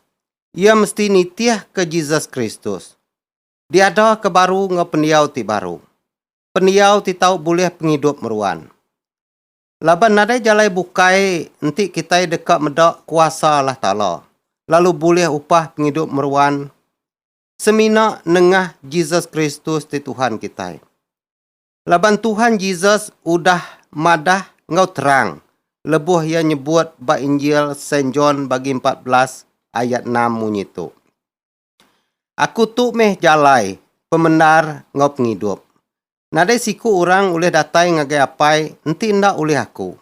iya mesti nitihka Jesus Kristus. Diada ke baru enggau pendiau ti baru. Pendiau ti tau bulih pengidup meruan. Laban nadai jalai bukai enti kitai deka meda kuasa Allah Taala, lalu bulih upah pengidup meruan semina nengah Jesus Kristus ti Tuhan kitai. Laban Tuhan Jesus udah madah enggau terang lebuh iya nyebut ba Injil Saint John bagi empat belas ayat enam munyi tu, Aku tu meh jalai, pemendar enggau pengidup. Nadai siku orang ulih datai ngagai Apai enti enda ulih aku.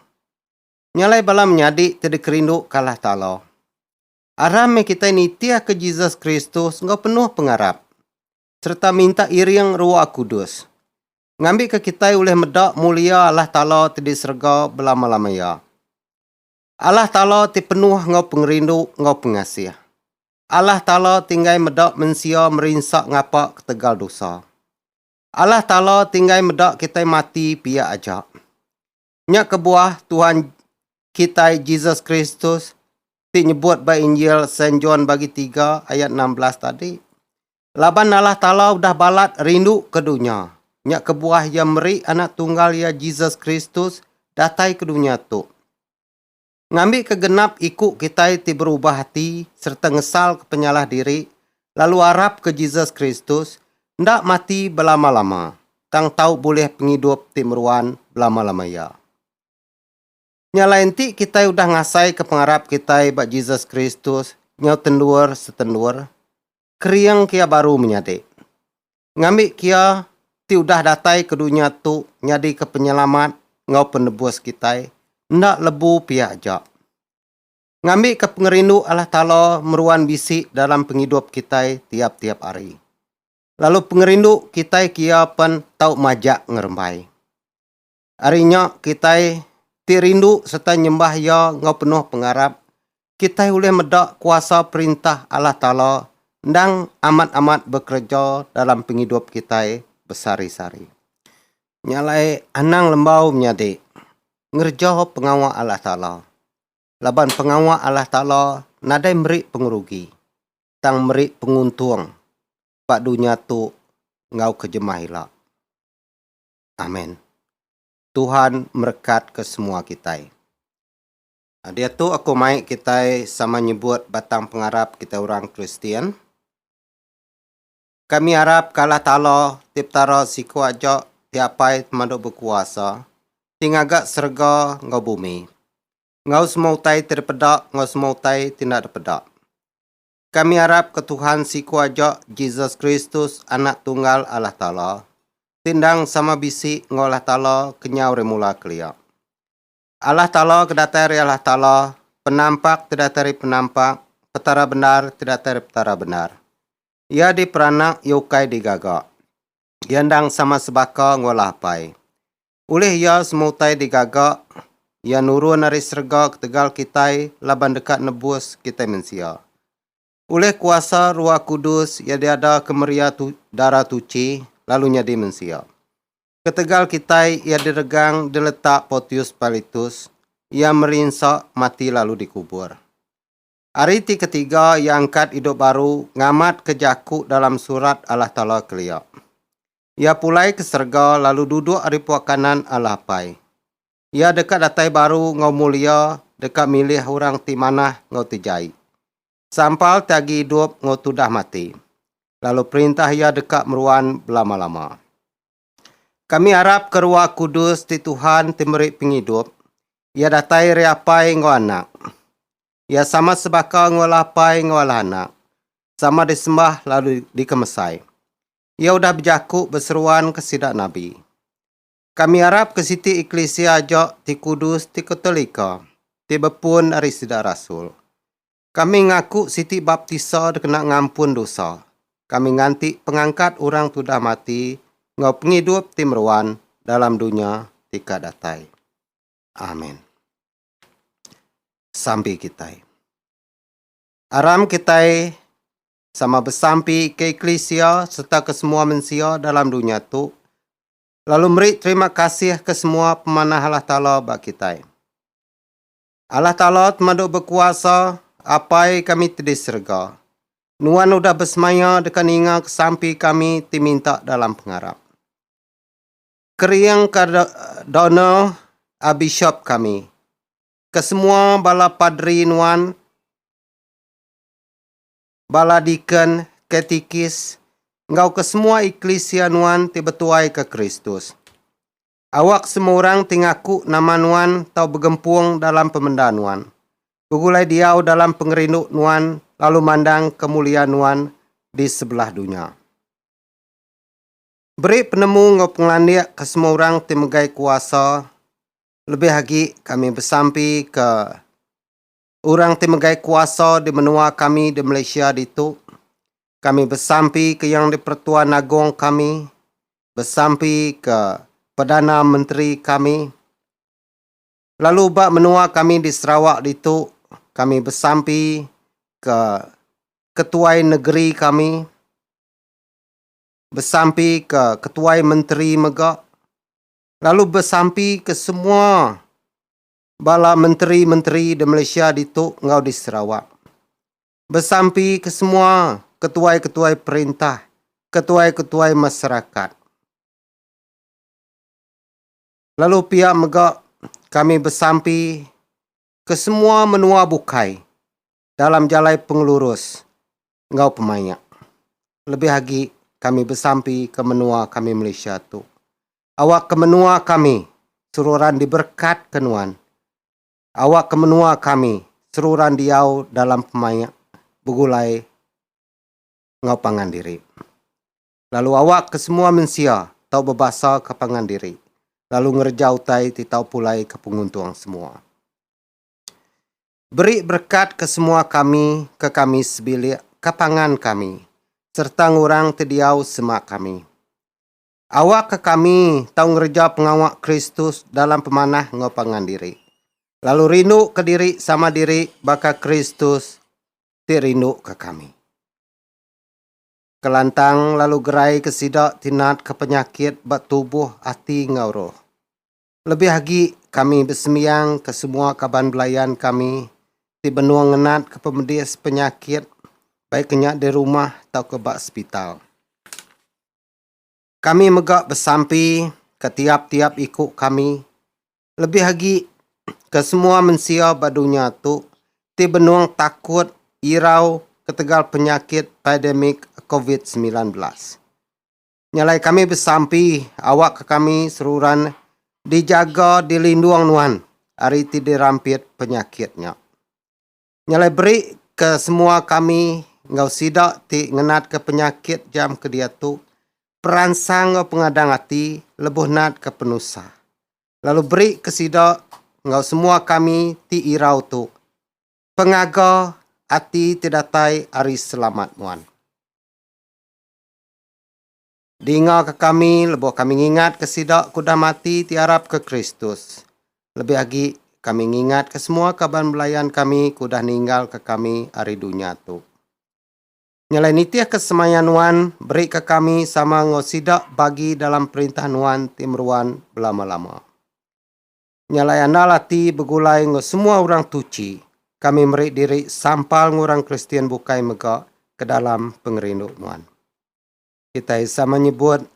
Nya alai bala menyadi ti dikerindu ke Allah Taala. Aram meh kitai nitihka Jesus Kristus enggau penuh pengarap. sereta minta iring Ruah Kudus, ngambika kitai ulih meda mulia Allah Taala ti di serega belama-lamaya. Allah Taala ti penuh enggau pengerindu enggau pengasih. Allah Taala ti enggai meda mensia merinsa ngapa ketegal dosa. Allah Taala ti enggai meda kitai mati pia aja. Nya kebuah Tuhan kitai Jesus Kristus ti nyebut ba Injil Saint John bagi tiga ayat enam belas tadi. Laban Allah Taala udah balat rindu ke dunya, nya kebuah Iya meri Anak Tunggal Iya Jesus Kristus datai ke dunya tu. ngambika genap iku kitai ti berubah ati sereta ngesalka penyalah diri lalu arapka Jesus Kristus enda mati belama-lama tang tau bulih pengidup ti meruan belama-lama iya. Nya alai enti kitai udah ngasaika pengarap kitai ba Jesus Kristus nyau tendur-setendur, kering kia baru menyadi. Ngambi kia ti udah datai ke dunya tu nyadika penyelamat enggau penebus kitai enda lebu pia aja. Ngambika pengerindu Allah Taala meruan bisi dalam pengidup kitai tiap-tiap hari. Lalu pengerindu kitai ke Iya pen tau majak ngerembai. Ari nya kitai ti rindu sereta nyembah Iya enggau penuh pengarap, kitai ulih meda kuasa Perintah Allah Taala endang amat-amat bekereja dalam pengidup kitai besehari-sehari. Nya alai anang lembau menyadi ngereja pengawa Allah Taala, laban pengawa Allah Taala nadai meri pengerugi, tang meri penguntung ba dunya tu enggau ke jemah ila. Amen. Tuhan merekat ke semua kitai. Ah, diatu aku mai kitai sama nyebut batang pengarap kitai orang Kristian. Kami arap ke Allah Taala ti Petara siku aja ti apai temadu bekuasa ti ngaga serega enggau bumi enggau semua utai ti dipeda enggau semua utai ti enda dipeda. Kami arap ke Tuhan siku aja Jesus Kristus Anak Tunggal Allah Taala ti endang sama bisi enggau Allah Taala kenyau ari mula kelia. Allah Taala ke datai ari Allah Taala, Penampak ti datai ari Penampak, Petara bendar ti datai ari Petara bendar. Iya diperanak iya ukai digaga. Iya endang sama sebaka enggau Allah Apai. Ulih iya semua utai digaga, iya nurun ari serega ketegal kitai laban deka nebus kitai mensia. Ulih kuasa Ruah Kudus iya diada ke meria tu, dara tuchi lalu nyadi mensia. Ketegal kitai iya diregang diletak Potius Pilitus, iya merinsa, mati lalu dikubur. Ari ti ketiga iya angkat idup baru ngamatka jaku dalam Surat Allah Taala kelia. Iya pulai ke serega lalu duduk ari pua kanan Allah Apai. Iya deka datai baru enggau mulia deka milih orang ti manah enggau ti jai, sampal ti agi idup enggau tudah mati, lalu perintah Iya deka meruan belama-lama. Kami arap ke Ruah Kudus ti Tuhan ti meri pengidup iya datai ri Apai enggau Anak. Iya sama sebaka enggau Allah Apai enggau Allah Anak, sama disembah lalu dikemesai. Iya udah bejaku beseruan ke sida nabi. Kami arap ke siti eklisia aja ti kudus ti ketolika ti bepun ari sida rasul. Kami ngaku siti baptisa dikena ngampun dosa. Kami nganti pengangkat orang tudah mati enggau pengidup ti meruan dalam dunya ti ka datai. Amen. Sampi kitai. Aram kitai sama besampi ke eklisia sereta ke semua mensia dalam dunya tu lalu meri terima kasih ke semua pemanah Allah Taala ba kitai. Allah Taala temadu bekuasa, Apai kami ti di serega. Nuan udah besemaya deka ninga kesampi kami ti minta dalam pengarap. Keringka Donald a bishop kami, ke semua bala padri nuan, bala deacon, katikis, enggau ke semua eklisia nuan ti betuaika Kristus. Awak semua orang ti ngaku nama nuan tau begempung dalam pemenda nuan, begulai diau dalam pengerindu nuan lalu mandang ke mulia nuan di sebelah dunya. Beri penemu enggau pengelandik ke semua orang ti megai kuasa lebih agi kami besampi ke Orang ti megai kuasa di menua kami di Malaysia ditu, kami besampi ke Yang di-Pertuan Agong kami, besampi ke Perdana Menteri kami, lalu ba menua kami di Sarawak ditu, kami besampi ke Ketuai Negeri kami, besampi ke Ketuai Menteri mega, lalu besampi ke semua bala menteri-menteri di Malaysia ditu enggau di Sarawak, besampi ke semua ketuai-ketuai perintah, ketuai-ketuai masyarakat. Lalu pia mega kami besampi ke semua menua bukai dalam jalai pengelurus enggau pemaik. Lebih agi kami besampi ke menua kami Malaysia tu. Awak ke menua kami seruran diberekat ke nuan. Awak ke menua kami seruran diau dalam pemaik begulai enggau pangan diri. Lalu awak ke semua mensia tau bebasa ke pangan diri lalu ngereja utai ti tau pulai ke penguntung semua. Beri berekat ke semua kami ke kami sebilik ka pangan kami sereta ngurang ti diau sema kami. Awakka kami tau ngereja pengawa Kristus dalam pemanah enggau pangan diri, lalu rinduka diri sama diri baka Kristus ti rinduka kami. Kelantang lalu geraika sida ti natka penyakit ba tubuh, ati enggau roh. Lebih agi, kami besembiang ke semua kaban belayan kami ti benung ngenatka pemedis penyakit baikka nya di rumah tauka ba sepital. Kami mega besampi ke tiap-tiap iku kami, lebih agi ke semua mensia ba dunya tu ti benung takut irau ketegal penyakit pademik covid semilan belas. Nyalai kami besampi awakka kami seruran dijaga dilindung nuan ari ti dirampit penyakit nya. Nyalai beri ke semua kami enggau sida ti ngenatka penyakit jam ke diatu peransang enggau pengadang ati lebuh natka penusah. Lalu beri ke sida enggau semua kami ti irau tu pengaga ati ti datai ari selamat nuan. Dingaka kami lebuh kami ngingatka sida ke udah mati ti arapka Kristus. Lebih agi, kami ngingatka semua kaban belayan kami ke udah ninggalka kami ari dunya tu. Nyelai nitihka semaya nuan, berika kami sama enggau sida bagi dalam perintah nuan ti meruan belama-lama. Nyalai andal ati begulai enggau semua orang tuchi, kami meri diri sampal enggau orang Kristian bukai mega ke dalam pengerindu nuan. Kitai sama nyebut,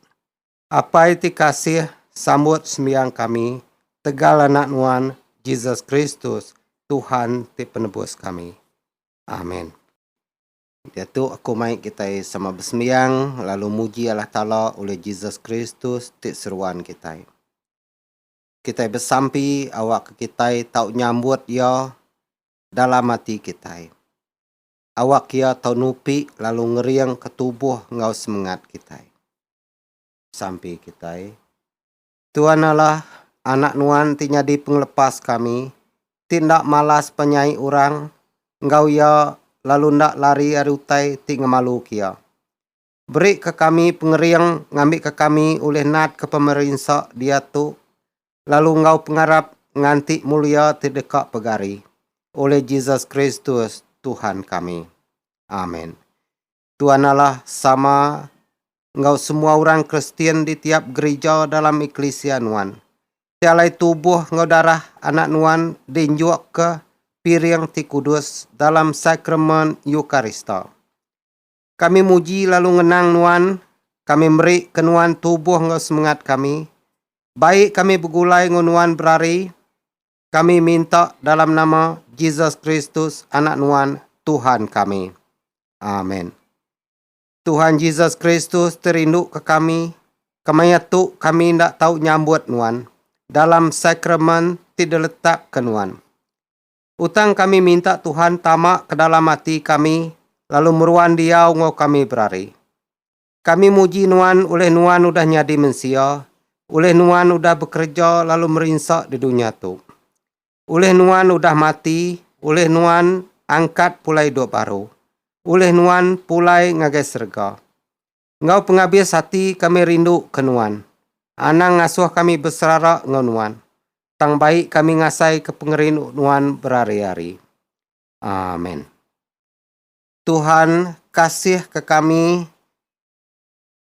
Apai ti kasih, sambut sembiang kami tegal Anak nuan, Jesus Kristus, Tuhan ti Penebus kami. Amen. Diatu aku mai kitai sama besembiang lalu muji Allah Taala ulih Jesus Kristus ti seruan kitai. kitai besampi awakka kitai tau nyambut Iya dalam ati kitai. Awak Iya tau nupi lalu ngeringka tubuh enggau semengat kitai. Sampi kitai, Tuan Allah, Anak Nuan ti nyadi Pengelepas kami, ti enda malas penyai orang enggau Iya lalu enda lari ari utai ti ngemaluka Iya. Berika kami pengering ngambika kami ulih natka pemerinsa diatu lalu enggau pengarap nganti mulia ti deka pegari, ulih Jesus Kristus, Tuhan kami. Amen. Tuan Allah sama enggau semua orang Kristian di tiap gerija dalam eklisia nuan. Ti alai tubuh enggau darah Anak nuan diinjukka piring ti kudus dalam Sakramen Eukarista. Kami muji lalu ngenang Nuan, kami meri ke Nuan tubuh enggau semengat kami. Baik kami begulai enggau Nuan berari. Kami minta dalam nama Jesus Kristus Anak Nuan, Tuhan kami. Amen. Tuhan Jesus Kristus ti rindu ke kami, kemaya tu kami enda tau nyambut Nuan dalam sakramen ti diletak ke Nuan. Utang kami minta Tuhan tama ke dalam ati kami lalu meruan diau enggau kami berari. Kami muji Nuan ulih Nuan udah nyadi mensia, ulih Nuan udah bekereja lalu merinsa di dunya tu. Ulih Nuan udah mati, ulih Nuan angkat pulai idup baru, ulih Nuan pulai ngagai serega. Enggau pengabis ati kami rindu ke Nuan. Anang ngasuh kami beserara enggau Nuan. Tang baik kami ngasai ke pengerindu Nuan berari-ari. Amen. Tuhan kasih ke kami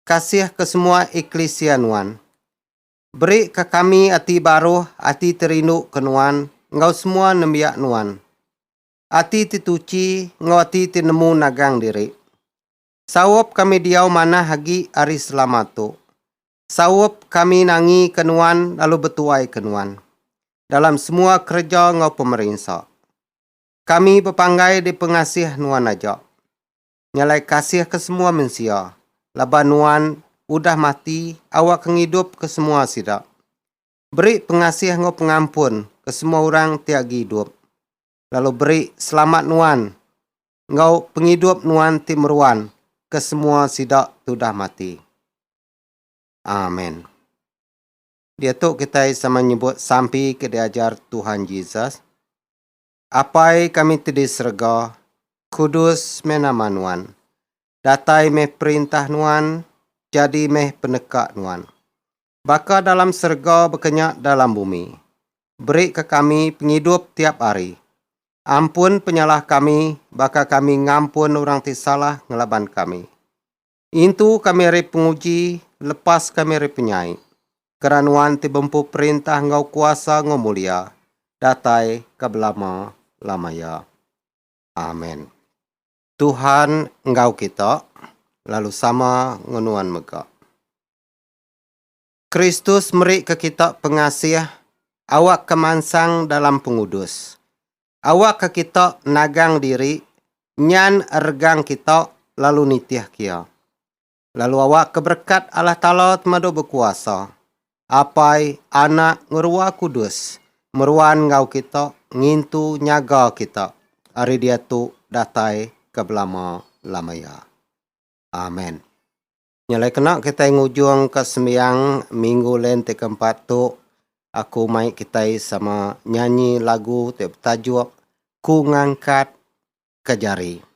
kasih ke semua eklisia Nuan. Beri ke kami ati baruh, ati ti rindu ke Nuan enggau semua nembiak Nuan. Ati ti tuchi enggau ati ti nemu nagang diri. Saup kami diau manah agi ari selama tu. Saup kami nangi ke nuan lalu betuai ke nuan dalam semua kereja enggau pemerinsa. Kami bepanggai di pengasih nuan aja. Nyalai kasih ke semua mensia laban nuan udah mati awakka ngidup ke semua sida. Beri pengasih enggau pengampun ke semua orang ti agi idup. lalu beri selamat nuan enggau pengidup nuan ti meruan ke semua sida tudah mati. Amen. Diatu kitai sama nyebut sampi ke diajar Tuhan Jesus, Apai kami ti di serega, kudus meh nama nuan. Datai meh perintah nuan, jadi meh peneka nuan. Baka dalam serega bekenya dalam bumi. Berika kami pengidup tiap hari. Ampun penyalah kami baka kami ngampun orang ti salah ngelaban kami. Intu kami ari penguji, lepas kami ari penyai. Kena Nuan ti bempu perintah enggau kuasa enggau mulia, datai ke belama-lamaya. Amen. Tuhan enggau kita, lalu sama enggau nuan mega. Kristus merika kita pengasih awakka mansang dalam pengudus. Awakka kita nagang diri nyan regang kita lalu nitihka Iya. Lalu awakka berekat Allah Taala Temadu Bekuasa, Apai, Anak, enggau Ruah Kudus meruan enggau kita ngintu nyaga kita ari diatu datai ke belama-lama iya. Amen. Nyelai kena kitai ngujungka sembiang Minggu Lent ti keempat tu, aku mai kitai sama nyanyi lagu ti betajuk Ku Ngangkat Ke Jari.